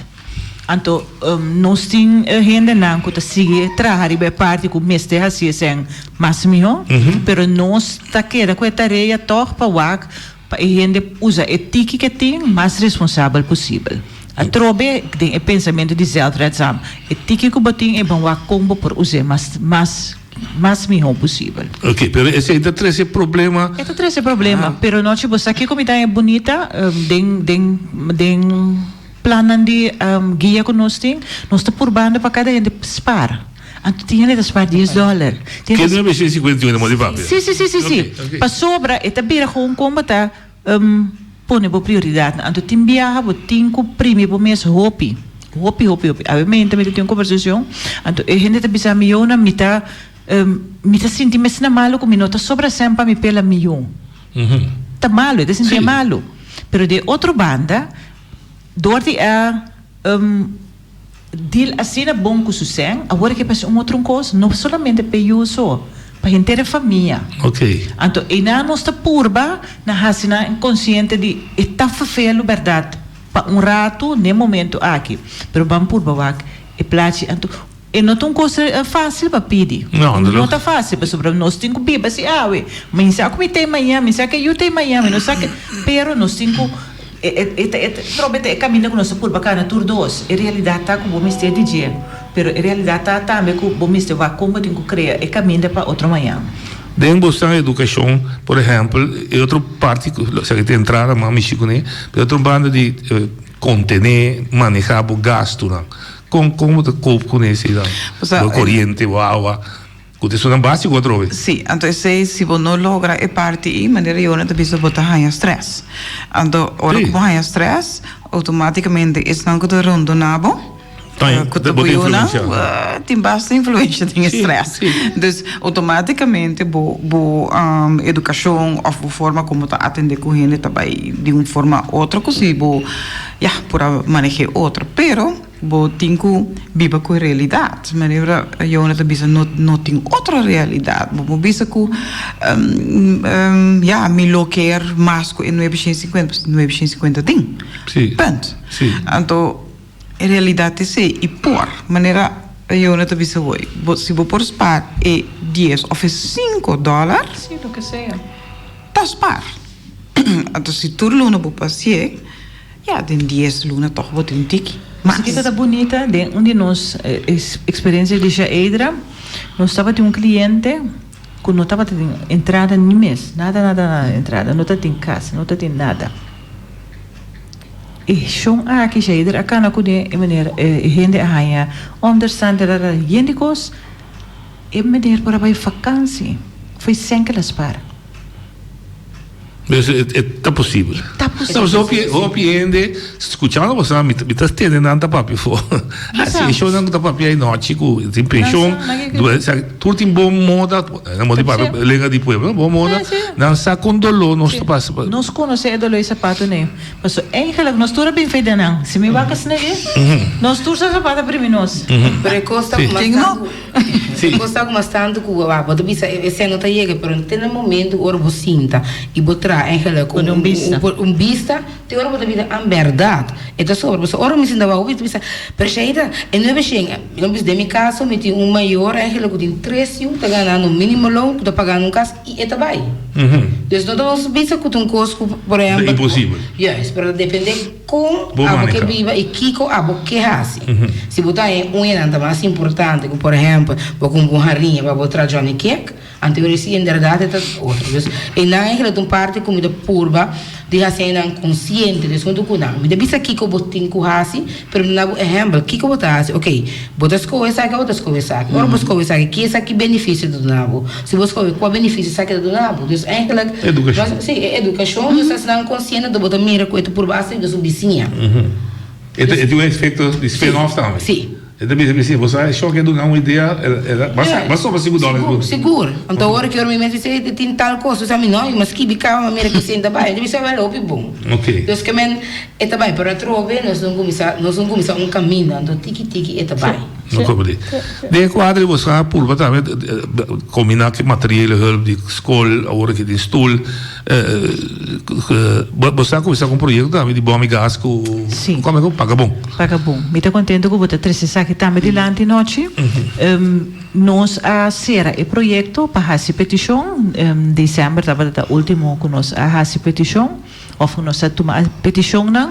Anto nos tin e hendenan ku ta sigui traha riba e parti ku mester hasi esèn mas mihó, pero nos ta keda ku e tarea tòg pa wak pa e hende usa e tiki ke tin mas responsabel posibel. Atrobe den e pensamentu di Zeldrad Zam, e tiki ku bo tin e bon wak kon bo por us'é mas. mas miho posibel. Ok, pero esei ta trese problema? E ta trese problema, pero no ochi bo sa kiko mi ta haña bunita den den den plannan di guia ku nos tin, nos ta purbando pa kada hende spar. Anto tin hende ta spar dies dòler. Tin hende ta. Ke no e mester e sikuenta i un e mor di papia? Si, si, si, si, si. Pasobra e ta bira kon kombo ta. Pone bo prioridadnan. Anto tin biaha bo tin ku primi bo mes hopi, hopi, hopi, hopi. Awe mi henter mi ta tin un konversashon, anto e henter ta bisa mi, Yona, mi ta mi ta sinti mesna malu ku mi no ta sobra sèn pa mi pela miyu. Ta malu, e ta sinti e malu. Pero di e otro banda, dor di e Dil asina bon ku su sèn. Awor ke p'hasi un otro kos, no solamente p'e yu so, pa henter e famia. Anto einan nos ta purba na hasi nan konsiente di e ta fefea lo bèrdat pa un ratu n'e momentu aki, pero ban purba wak e plachi. Anto. E no ta un kos fásil pa pidi. No ta fásil pasobra nos tin ku biba si awe. Min sa ku mi ta e Miami, sa ke yu ta e Miami, no sa ke, pero nos tin ku e ta e trobe ta e kaminda ku nos ta purba kana tur dos. E realidat ta ku bo mester di dje, pero e realidat ta tambe ku bo mester wak kon bo tin ku krea e kaminda pa otro Miami. Den Boston edukashon, por ehèmpel, e otro parti ku lo sa ke ta entrada mas mi shi kuné, pero otro banda di kontené, manehá bo gastunan. Kon kon bo ta cope cu necesidad? Bo coriente, bo awa, cu ta esunnan basico atrobe. Sí, anto esey si bo no logra e parti ey, manera Yona ta bisa, bo ta haña stress. Anto ora cu Sí. bo haña stress, automaticamente esnan cu ta rondo na bo, Tan- eh, cu ta bo ta boyo nan, influencia. eh, tin basta influencia den e Sí, stress. sí. Dus automaticamente bo, bo, ehm, educacion of bo forma como bo ta atende cu hende ta bay di un forma u otro cu si bo. Ya, por a manej'é otro, pero bo tin cu biba cu e realidad. Manera Yona ta bisa, no, no tin otro realidad. Bo por bisa cu, ya, mi lo ker mas cu e nuebe shen cincuenta, pasobra nuebe shen cincuenta tin. Sí. Punt. Sí. Anto, e realidad ta esey, i por. Manera Yona ta bisa hoy, bo, si bo por spaar e dies of e cinco dollar. Sí, loke sea. Ta spar. Anto si tur luna bo pasié, ya den dies luna tog bo tin tiki mas. Esaki ta ta bunita den un di nos experiencia di Sha Eidra. Nos tabatin un cliente cu no tabatin entrada ni mes, nada nada nada di entrada, no tatin cas, no tatin nada. E shon aki Sha Eidra a cana cu den e manera e hende a haña understand ta ta ta yen di cos. E meneer por a bai vakansi. Foi sen ke el a spara. Mester e ta posibel. E ta posibel. Nos hopi hopi hende skuchando boso nan mi ta stende nan ta papia for. Nos sabes. E shownan ku ta papia e nochi ku tin penshon. Nos sabes. Duran sa tur tin bon moda nan mos di papia lenga di pueblo no bon moda. Si si. Nan sa kon dolo nos ta pasa pa. Nos konosé e dolo e sapato ne. Paso engelak nos tur a bin fei den nan. Si mi wak a snegi. Nos tur sa sapat a primi nos. Pero e kos ta kumansando. Bo por sa ku mas tantu ku bo ta bisa e seno ta yega pero ta na momentu ora bo sinta i bo traha engelek un bista te ora bo ta bira an bèrdat e ta sobra pasobra ora mi sinta wak mi ta bisa pero Shaida e no e bishen mi bisa den mi kaso mi tin un mayor engelek ku tin tres yu ta ganando un minimo loan ku ta pagando un kas i e ta bai dus no ta bisa ku ta un kos ku por ehempel ya pero ta depende. Kon abo ke biba i kiko abo ke hasi? Si bo ta haña e uñanan ta mas importante ku por ehèmpel bo kumpu un hariña pa bo tra Johnny Cake, anto bo disi enderdat e ta otro. Dus einan e hila ta un parti ku mi ta purba di hasi einan konsiente di e suntu ku nan. Mi ta bisa kiko bo tin ku hasi, pero mi ta na bo ehèmpel kiko bo ta hasi. Oke, bo ta skohe esaki o bo ta skohe esaki. Ora bo skohe esaki, ki esaki benefisio ta duna bo? Si bo skohe kua benefisio esaki ta duna bo. Dus eigenlik. Edukashon. Si, e edukashon. Dus esnan konsiente do bo ta mira ku e ta purba hasi riba su bisiña. E ta tin un efekto di spin-off tambe. Si. E ta bisa bisiña, Bo sa e shòk e duna un idea? Basta soba sigur dòla e duna. Sigur. Anto ora ku e oranmi mes bisa e tin tal kos, bisa mi no, yu mas skibi kaba ma mira kisin ta bai. E ta bisa wèl hopi bon. Dus kemen e ta bai. Pero atrobe nos dun kuminsá, nos dun kuminsá un kaminda. Anto tiki tiki e ta bai. Lo comprende. Den e cuadro bo sa purba tambe combina cu material hulp di school awor cu tin stoel bo sta cuminsa cu un proyecto tambe di bomi gas cu como cu paga bon. Paga bon mi ta contento cu bo ta trece esaki tambe dilanti nochi nos a cera e proyecto pa haci peticion december tabata ta ultimo cu nos a haci peticion of cu nos a tuma peticion nan.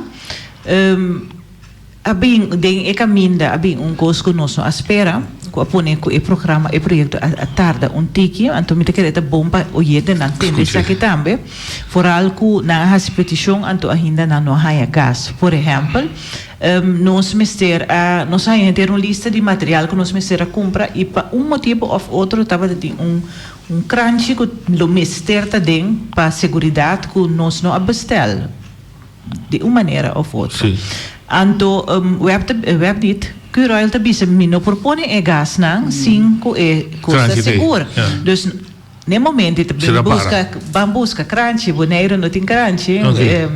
A bin den e kaminda a bin un kos ku nos no a spera, ku a pone ku e programa, e proyekto a a tarda un tiki. Anto mi ta kere ta bon pa oyentenan tende esaki tambe, foral ku nan a hasi petishon anto ainda nan no a haña gas. Por ehèmpel, nos mester a nos haña henter un lista di material ku nos mester a kumpra i pa un motibu òf otro tabata tin un un kranchi ku lo mester ta den pa seguridat ku nos no a bestèl. di un manera of otro. Anto web dit Curoil ta bisa mi no por pone e gasnan sin cu e cos ta segur. Dus n'e momento y ta bini busca, ban busca crunchy, Boneiru no tin crunchy,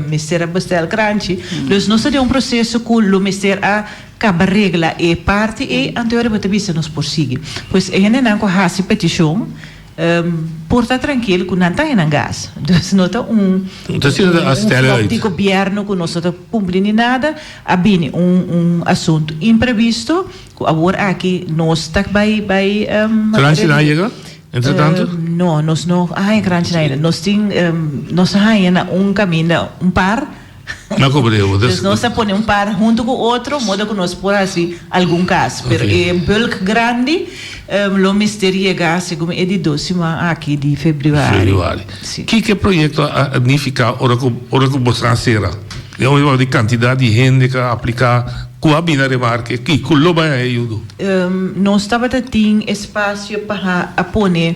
mester a bestel crunchy. Dus nos ta den un proceso cu lo mester a caba regla e parti ey, anto e ora bo ta bisa nos por sigui. Pues e hendenan cu a haci peticion. Por ta trankil ku nan ta hei nan gas. Dus no ta un flòp di gobièrnu ku nos no ta kumpli ni nada. A bini un asuntu imprevisto ku awor aki nos ta bai bai redusi. No, nos no a haña kranchi na yende. Nos tin, nos a haña na un kaminda un par Na koba di evo. Dus nos ta pone un par huntu ku otro modo ku nos por hasi algun kas. Pero e bulk grandi lo mester yega segun e di dos siman aki di febrüari. Si. Kiko e proyekto a nifiká ora ku ora ku boso a sera? Den oyo wòrdu di kantidat di hende ku a apliká ku a bini a remarke aki ku lo bai a e yudu? Nos tabata tin espasio pa a pone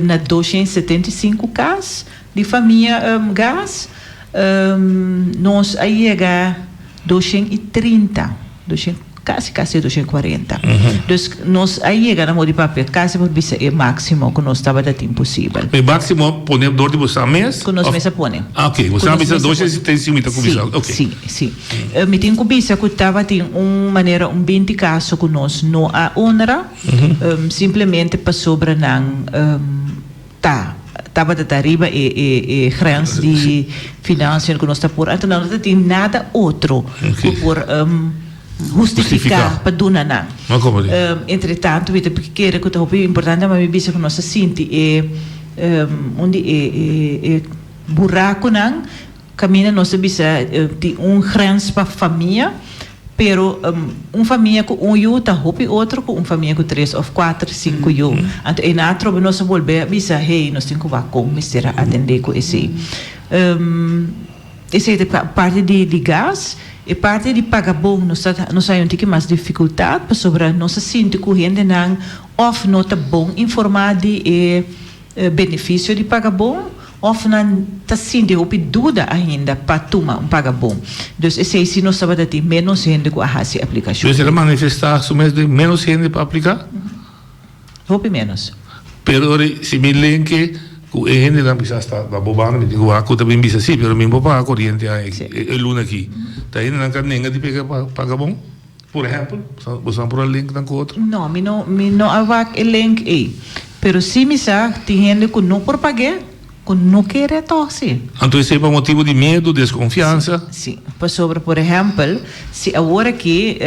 na doshen setenta i sinku kas. Di famia Gaas nos a yega doshen i trinta, doshen kasi kasi doshen i kuarenta. Dus nos a yega na mor di papia kasi por bisa e máksimo ku nos tabata tin posibel. E máksimo pone dor di boso mes? Ku nos mes a pone. A oke, boso a bisa doshen sitenta i singuinta ku bisa. Si, si, si. Mi tin ku bisa ku tabatin un manera un binti kaso ku nos no a onra simplemente pasobra nan Ta, tabata ta riba e, e, e grens di financian cu nos ta por. Anto nan no ta tin nada otro cu por, um, hustifica pa duna nan. Ma como di? Um, entretanto, mi ta kere cu ta hopi importante pa mi bisa cu nos ta sinti e, um, un di e, e, e buracunan, Caminda nos ta bisa tin un grens pa famia, pero un famia cu un yu ta hopi otro cu un famia cu tres of cuater, cinco yu. Anto ey na trobe nos a bolbe a bisa hey, nos tin cu wak con mester a atende cu esey. Esey ta parti di gas. E parti di paga bon nos ta nos ta hay un tiki mas dificultad pasobra nos ta sinti cu hendenan of no ta bon informa di e. beneficio di paga bon of nan ta sinti hopi duda ainda pa tuma un paga bon. Dus esei si nos tabata tin menos hende cu a haci aplicacion. Dus el a manifesta su mes den menos hende pa aplica? Hopi menos. Pero ora si mi lenke cu e hendenan kisas ta na bo banda, mi tin wak cu ta bin bisa si, pero mi no por paga coriente aña aki, e luna aki. Ta hendenan ka nenga di pega paga bon? Por ehempel, boso a por a link nan cu otro? No, mi no mi no a wak e link ey. Pero si mi sa tin hende cu no por pag'e, cu no kere tog si. Anto esey pa motibo di miedu, desconfiansa? Si, si. Pasobra por ehempel, si awor aki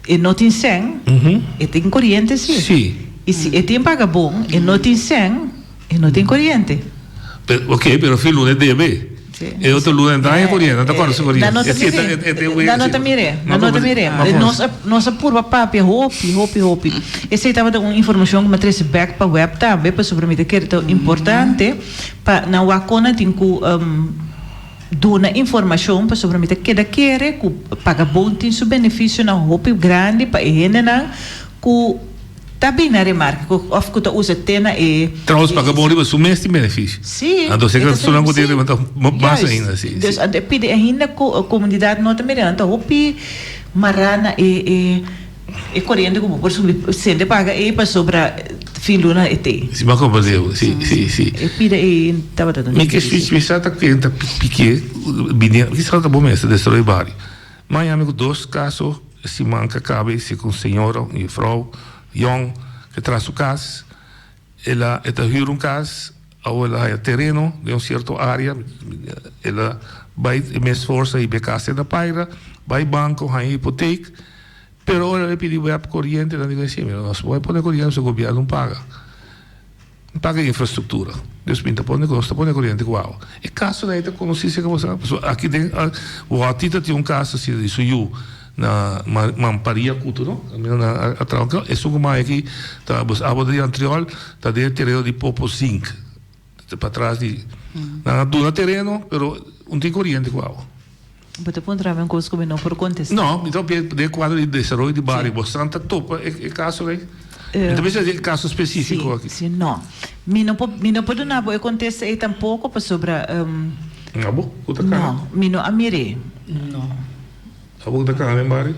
e no tin seng, e tin coriente si. Si. Y si e tin paga bon, e no tin seng. E no tin coriente. Ok, pero fin lunes debe. E otro lunes entra e coriente, ta conoce coriente. Da no te mire, da no te mire. Nos a purba papia hopi, hopi, hopi. Ese tabata un informacion cu me trece back pa web tambe, pasobra por mi ta kere ta importante pa nan wak con nan tin cu duna informacion, pasobra mi ta keda kere cu paga bon tin su beneficionan hopi grandi pa e hendenan cu. Ta bini a remarca cu of cu ta usa te na e. Trouwens pa Gabon riba su mes tin beneficio. Si. Anto seka ta sona cu tin riba ta mas ainda. Si, si. Dus anto e pidi ainda cu comunidad no ta mira anto hopi mara na e e coriente cu bo por subi sende paga ey pasobra fin luna e te. Si bo compra deu. Si, si, si. E pidi ey tabata. Mi ke switch mi sa ta cuenta pikey bini a kisa ta bo mes ta destroy bario. Miami ku dos kaso e siman ka kaba i segun señora, un jefrouw, yòn, ke tras su kas. El a e ta hür un kas, awo el a haya tereno den un sierto área. El a bai e mes forsa a hiba e kas den na paira, bai banko haña hipotek. Pero ora el a pidi wèp koriente nan di ku e heshe, mira, nos por bai pone koriente pasobra gobiernu paga. N paga infrastruktura. Dios pinta por mi ku nos ta pone kuriente ku awa. E kasonan ei ta konosí serka bo sa. Pasobra aki den Wòti ta tin un kas asina di su yu na Mamparia Kuto no. Ta mira nan a traha ku esun ku mai aki ta bos awa di antriòl ta den e tereno di Popo Zink ta patras di nan a duna tereno pero no tin kuriente ku awa. Bo ta puntra mi un kos ku mi no por kontestá. No, mi ta papia den e kuadro di desaroyo di bario. Bo san ta topa e kasonan ei? Mi ta mester hasi e kaso spesífiko aki. Sí, sí. No. Mi no por, mi no por duna bo e kontesta ei tampoko pasobra, Abo ku ta kaha? no, mi no a mir'é. No. Abo ku ta kaha den bario?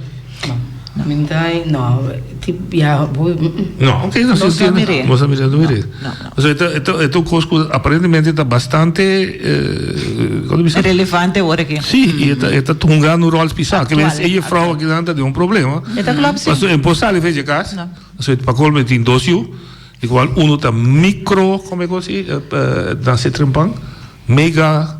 Na mi dai no ti biaha bo no ok no si si bo sa mire no mire so eto eto eto cos cu aparentemente ta bastante uh, relevante ora que si y eta eta tunga no rol pisa que mes ella frau aquí dan ta de un problema eta klop si so en postal fe je cas so et pa colme tin dos yu y cual uno ta micro como cosa dan se trempan mega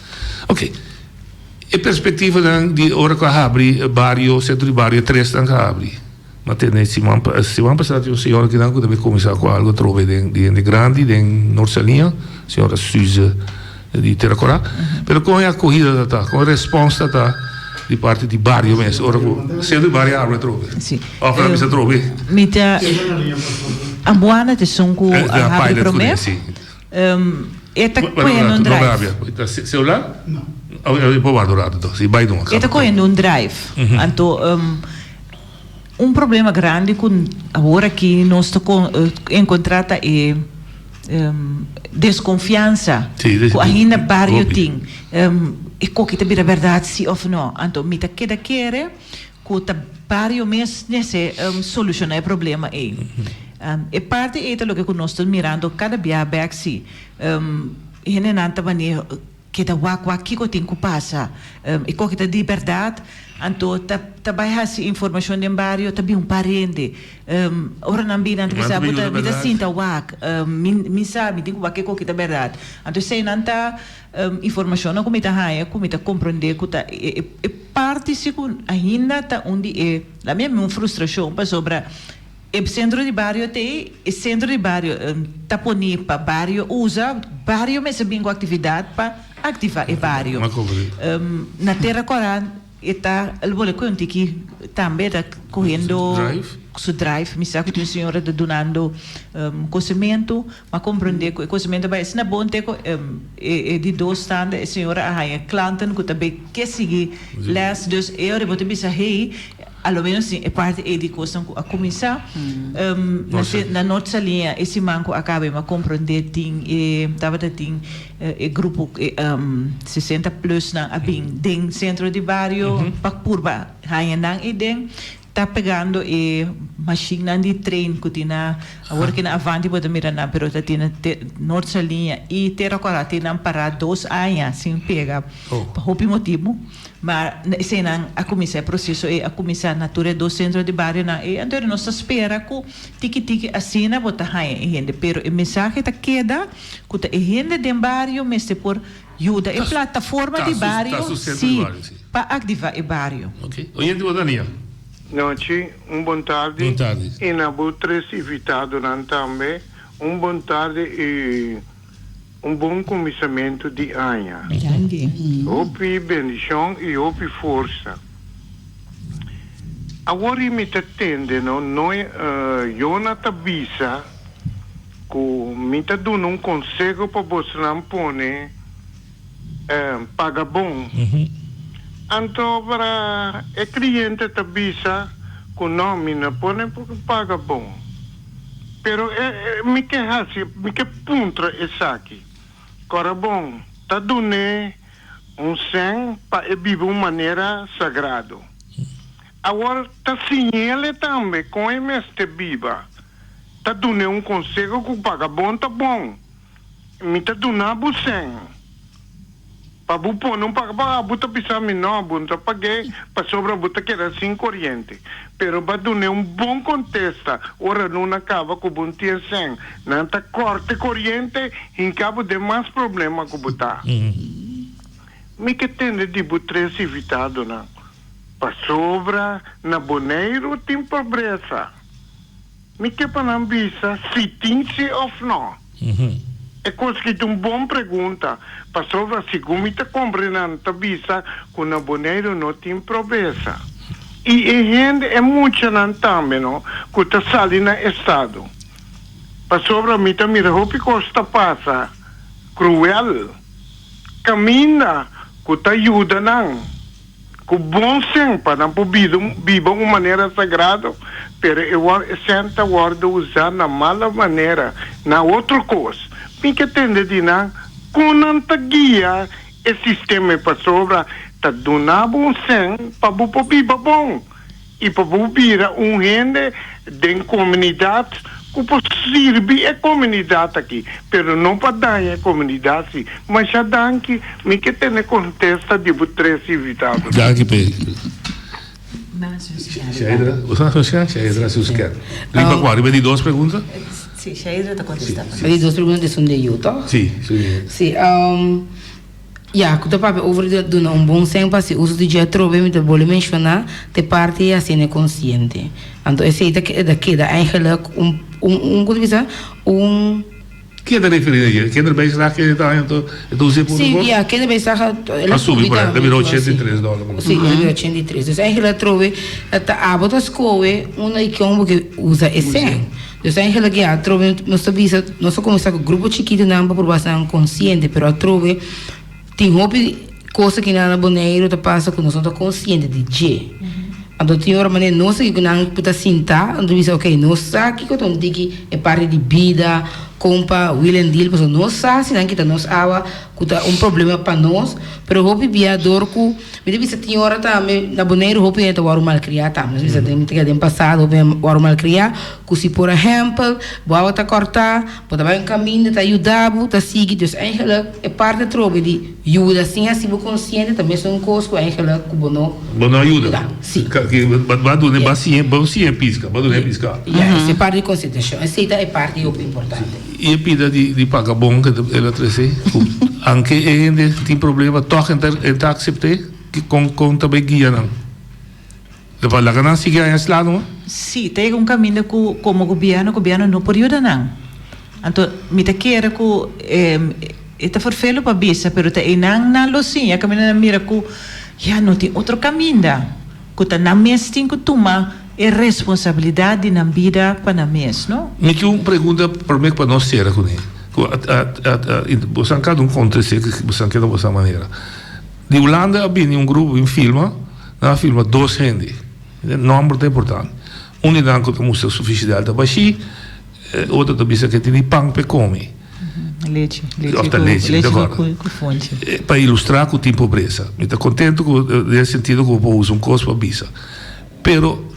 Ok, e perspectivonan di ora cu a habri bario, centro di bario, tres nan cu a habri. Ma tene siman, siman pasado tin un señora aki nan cu ta bay cuminsa cu algo atrobe den, di hende grandi den Norsania, señora Suze di Tera Cora. Pero con e acogida ta ta, con e respons ta ta di parti di bario mes, ora cu centro di bario a habri atrobe? Si. Of nan a bisa atrobe? Mi ta, Keda na liña por favor. Ambuana t'esun cu a habri prome? E ta cohendo un drive. E ta cohendo un drive. Anto, un problema grandi cu awor aki nos ta encontra ta e desconfiansa cu ainda bario tin. E coki ta bira berdad si of no. Anto, mi ta keda kere. cu ta bario mes mester soluciona e problema ey. E parti ey ta loke cu nos ta mirando cada bia bek si hendenan ta bani keda wak wak kico tin cu pasa, y coke ta di berdad, anto ta bay haci informacion den bario ta bin un pariente, ora nan bin anto kisa bo ta sinta wak, mi sa mi tin cu wak kico ki ta berdad, anto esey nan ta. Informashonnan ku mi ta haña ku mi ta komprendé ku ta e parti si ku ainda ta un di e, la mi a mi un frustrashon pasobra e sentro di bario te e sentro di bario ta pone pa bario usa, bario mester bin ku aktividat pa aktivá e bario. Na Tera Kòrá. E ta el bole cu enti ki tambe ta cohendo su drive. Mi sa cu tin un señora ta dunando cocemento, ma comprende cu e cocemento bai asina bon te cu e di dos tanda e señora a haya clanten cu ta bay ke sigui les. Dus e ora bo ta bisa hey, a lo menos tin e parti ey di cosnan cu a cuminsa. Na Noord Salinja e siman cu a caba e mi a comprende tin e tabata tin. E grupo sesenta plusnan a bin den centro di bario pa purba haña nan ei den. Ta pegando e mashinnan di tren cu tin na, awor cu nan avanti bo ta mira nan, pero ta tin na Noordse Linea y Terra Cuadrada tin nan para dos aña sin pega pa hopi motibu. Ma eseinan a cuminsa e proceso ei, a cuminsa na tur e dos centro di barionan ei. Anto nos ta spera cu tiki tiki asina bo ta haña e hende, pero e mensahe ta keda. ku ta e hende den bario mester por yuda e plataforma di bario si pa aktivá e bario. Nochi, un bon tardi i na bo tres invitadonan tambe un bon tardi i un bon kuminsamentu di aña. Hopi bendishon i hopi forsa. Awor i mi ta tende no Yona ta bisa. Cu mi ta duna un conseho pa bosnan pone paga bon. Anto para e cliente ta bisa cu no mi no pone paga bon. Pero mi ke haci, mi ke puntra esaki, Cora bon ta dun'e un cen pa e biba un manera sagrado? Awor ta siñele tambe kon e mester biba. Ta dun'é un konseho ku paga bon ta bon. Mi ta duna bo sen pa bo pone un paga pa abo ta bisa mi no, bo no ta pag'é pasobra bo ta keda sin koriente. Pero bo a dun'é un bon kontesta ora luna kaba ku bo no tin sen. Nan ta kòrt'é koriente hinka bo den mas problema ku bo ta. Mi ke tende di bo tres invitadonan. Pasobra na Boneiru tin pobresa. Mi ke pa nan bisa si tin si òf nò. E kos ki ta un bon pregunta, pasobra segun mi ta komprenan ta bisa ku na Boneiru no tin probesa. I e hende, e muchanan tambe no, ku ta sali na estado. Pasobra mi ta mira hopi kos ta pasa kruel kaminda ku ta yuda nan. Ku bon sen pa nan por biba un manera sagrado, pero e sen ta wòrdu usá na mala manera na otro kos. Mi ke tende di nan kon nan ta guia e sistema. E pasobra ta duna bo un sen pa bo por biba bon. I pa bo bira un hende den komunidat ku por sirbi e komunidat aki, pero no pa daña e komunidat si. Masha danki, mi ke tene kontesta di bo tres invitado. Danki pe Shaidra. Bo sa asosia Shaidra Susquet. Riba kua? Riba di dos pregunta? Si, Shaidra ta kontesta pa nos. E dos pregunta esun di yu, tòg? Si, esun di yu. Si. Ya cu ta papia over di duna un bon seng pa haci uso di dje atrobe, mi ta bolbe menciona te parti di hacene consciente. Anto esey ta keda keda eigenlijk un, un, un, como ta bisa? Un. Ken ta referi na dje? Ken der bay sag ken e ta haña anto e ta un sip otro cos? Si, ya, ken der bay sag el a subi tambe. A subi, por ehe, ta bira ochenta i tres dollar, por lo menos. Si, ta bira ochenta i tres. Dus, eigenlijk atrobe ta ta abo ta scohe un laikon bo ke usa e seng. Los angel a guia atrobe, nos ta bisa nos a comenzá cu grupo chikitonan pa proba asina nan consciente, pero atrobe tin hopi cosa ki nan na Boneiru ta pasa cu nos no ta consciente di dje, anto tin ora manera nos aki cu nan cu ta sintá nos ta bisa ok nos sa kico ta un tiki e parti di bida con pa wheel and deal, pasobra nos sa si nan kita nos awa cu ta un problema pa nos, pero hopi bia dor cu. Mi ta bisa tin ora tambe na Boneiru hopi hende ta wòrdu malkriá tambe. Nos bisa mi ta keda den pasado hopi hende wòrdu malkriá ku si por ehèmpel bo awa ta kòrtá, bo ta bai un kaminda ta yuda bo ta sigui Dios eingelik. E parti atrobe di yuda sin hasi bo konsiente ta mesun kos ku eingelik ku bo no Bo no a yuda. Si. Ke bo a duna e bai siña, bo siña e piska, bo a duna e piská. Ya, es e parti di konsientashon. Esei ta e parti hopi importante. Y e pida di paga bon cu el a trece cu anke e hende tin problema toch e ta acepte con con ta bay guia nan? Lo pa laga nan sigui a hesla no? Si, ta yega un caminda cu como gobierno, gobierno no por yuda nan. Anto mi ta kere cu e ta forfelu pa bisa pero ta einan nan lo siña caminda nan mira cu ya no tin otro caminda cu ta nan mes tin cu tuma. E responsabilidad di nan bida pa nan mes, no? Mi tin un pregunta prome pa nos cera cu ne. Bosan cada un conta esey cu bosan keda bosan manera. Di Hulanda a bini un grupo bin filma, nan a filma dos hende, nomber ta importante. Un di nan cu ta mustra su fizicidad ta bashi, otro ta bisa cu e tene pan pa e come. Lechi, lechi cu fonchi. Pa ilustra cu tin pobreza. Mi ta contento cu den e sentido cu bo por usa un cos pa bisa. Pero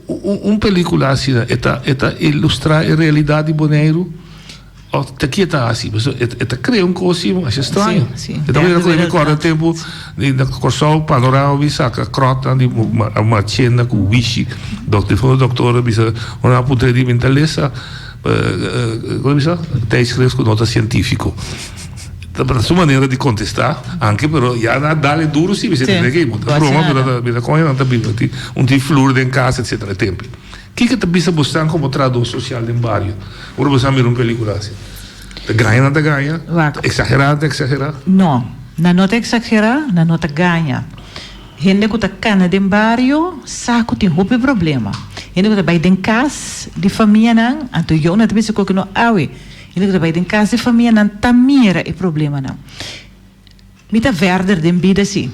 un pelicula asina e ta e ta ilustra e realidad di Boneiru of ta ki e ta hasi paso e ta crea un cosa así mas extraño sí, sí. e ta mira me recorda tempo di na Corsou panorama bi saca crota di machenda cu wishi doctor fondo doctor bisa un apunte di mi ta lesa uh uh uh como bisa tijdschrift cu nota cientifico Ta bira su manera di kontestá anke pero ya a dale duru si mester tene ki ta broma pero mira kon nan ta biba tin un tin flur den kas etsetera tempu kiko ta bisa bosan komo trahador sosial den bario ora bosa mira un pelikula asi ta gaña nan ta gaña ta eksagerá nan ta eksagerá no nan no ta eksagerá nan no ta gaña hende ku ta kana den bario sa ku tin hopi problema hende ku ta bai den kas di famia nan anto yo nan ta bisa koke no awe Hende ku ta bai den kas di famianan ta mira e problemanan. Mi ta verder den bida si.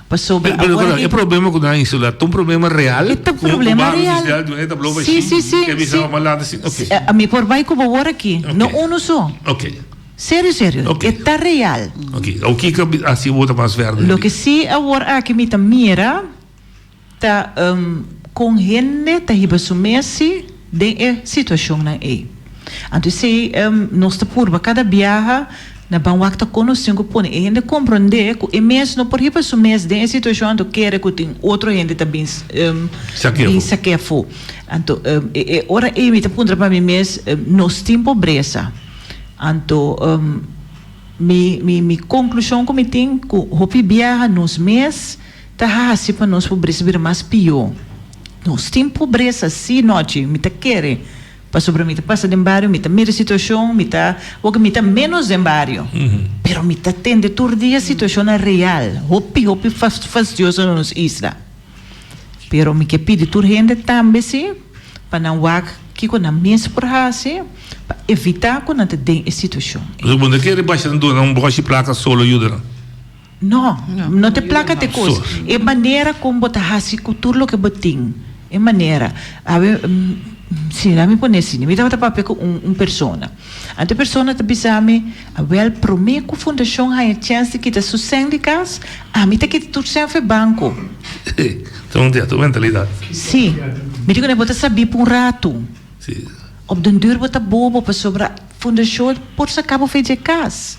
Pasobra awor aki. Pero e problema ku nan isola ta un problema real? E ta un problema real. Ku bo a tablo bashi. Si, si, si. Ke bisa bo malada asi? Okay. A mi por bai ku bo awor aki. Okay. No unu so. Okay. Serio, serio. Okay. E ta real. Okay. Awor kiko a hasi bo ta mas verder? Loke si awor aki mi ta mira. Ta um con hende ta hiba su mesi den e situacionnan ey. Anto esey um nos ta purba cada biaha na ban wak ta conoci cu pone e hende comprende cu e mes no por hiba su mes den e situacion anto kere cu tin otro hende ta bin um bin sakefo. Anto um e e ora ey mi ta puntra pa mi mes um nos tin pobresa? Anto um mi mi mi conclusion cu mi tin cu hopi biaha nos mes. Ta hasi pa nos pobresa bira mas pió. Nos tin pobresa sí nochi. Mi ta kere pasobra mi ta pasa den bario, mi ta mira situashon, mi ta wak mi ta ménos den bario. Pero mi ta tende tur dia situashonnan real hopi hopi fas fastioso na nos isla. Pero mi ke pidi tur hende tambe sí pa nan wak kiko nan mes por hasi pa evitá ku nan ta den e situashon. Pasobra bo no ta kere basha nan duna nan un bòshi plaka solo yuda nan. No, no te placa t'e cos. E manera con bo ta haci cu tur loke bo tin. E manera. Awe, si, laat mi pone asina. Mi tabata papia cu un, un persona. Anto e persona ta bisa mi, Awel, prome cu Fundacion haña chens di kita su cen di cas, ami ta kita tur cen f'e banco. Hey, ta un diatu mentalidad. Si. Mi di cu ne, bo ta sabi p'un ratu. Si. Op den duur bo ta bobo pasobra Fundacion por saca bo f'e dje cas.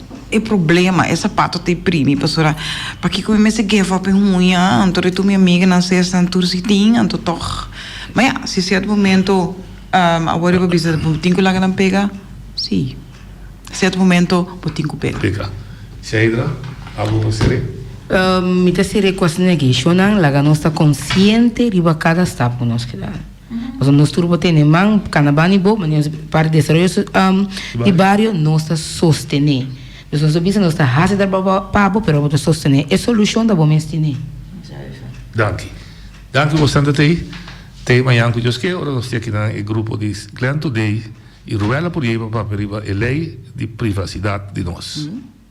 E problema, e sapato ta e primi pasobra pakico mi mester geef op e hunja anto de tur mi amiganan ser esnan tur si tin anto toch ma ya si cierto momento awor riba bisa bo tin cu laga nan pega si cierto momento bo tin cu pega. Pega. Shaidra, algo pa cere? Mi ta cere cu asina gueishonan laga nos ta consciente riba cada stap cu nos ke da. Pasobra nos tur por tene man cana bani bo, manera nos Parti Desaroyo di Bario nos ta sostene. Nos no ta bisa nos ta haci trabao pa bo, pero abo ta sostene e solucion dat bo mes tene. Danki. Danki bo Santa Tei. Tei mañan cu Dios ke, ora nos tin akinan e grupo di Glen Today y Ruela por yey papapia riba e ley di privacidad di nos.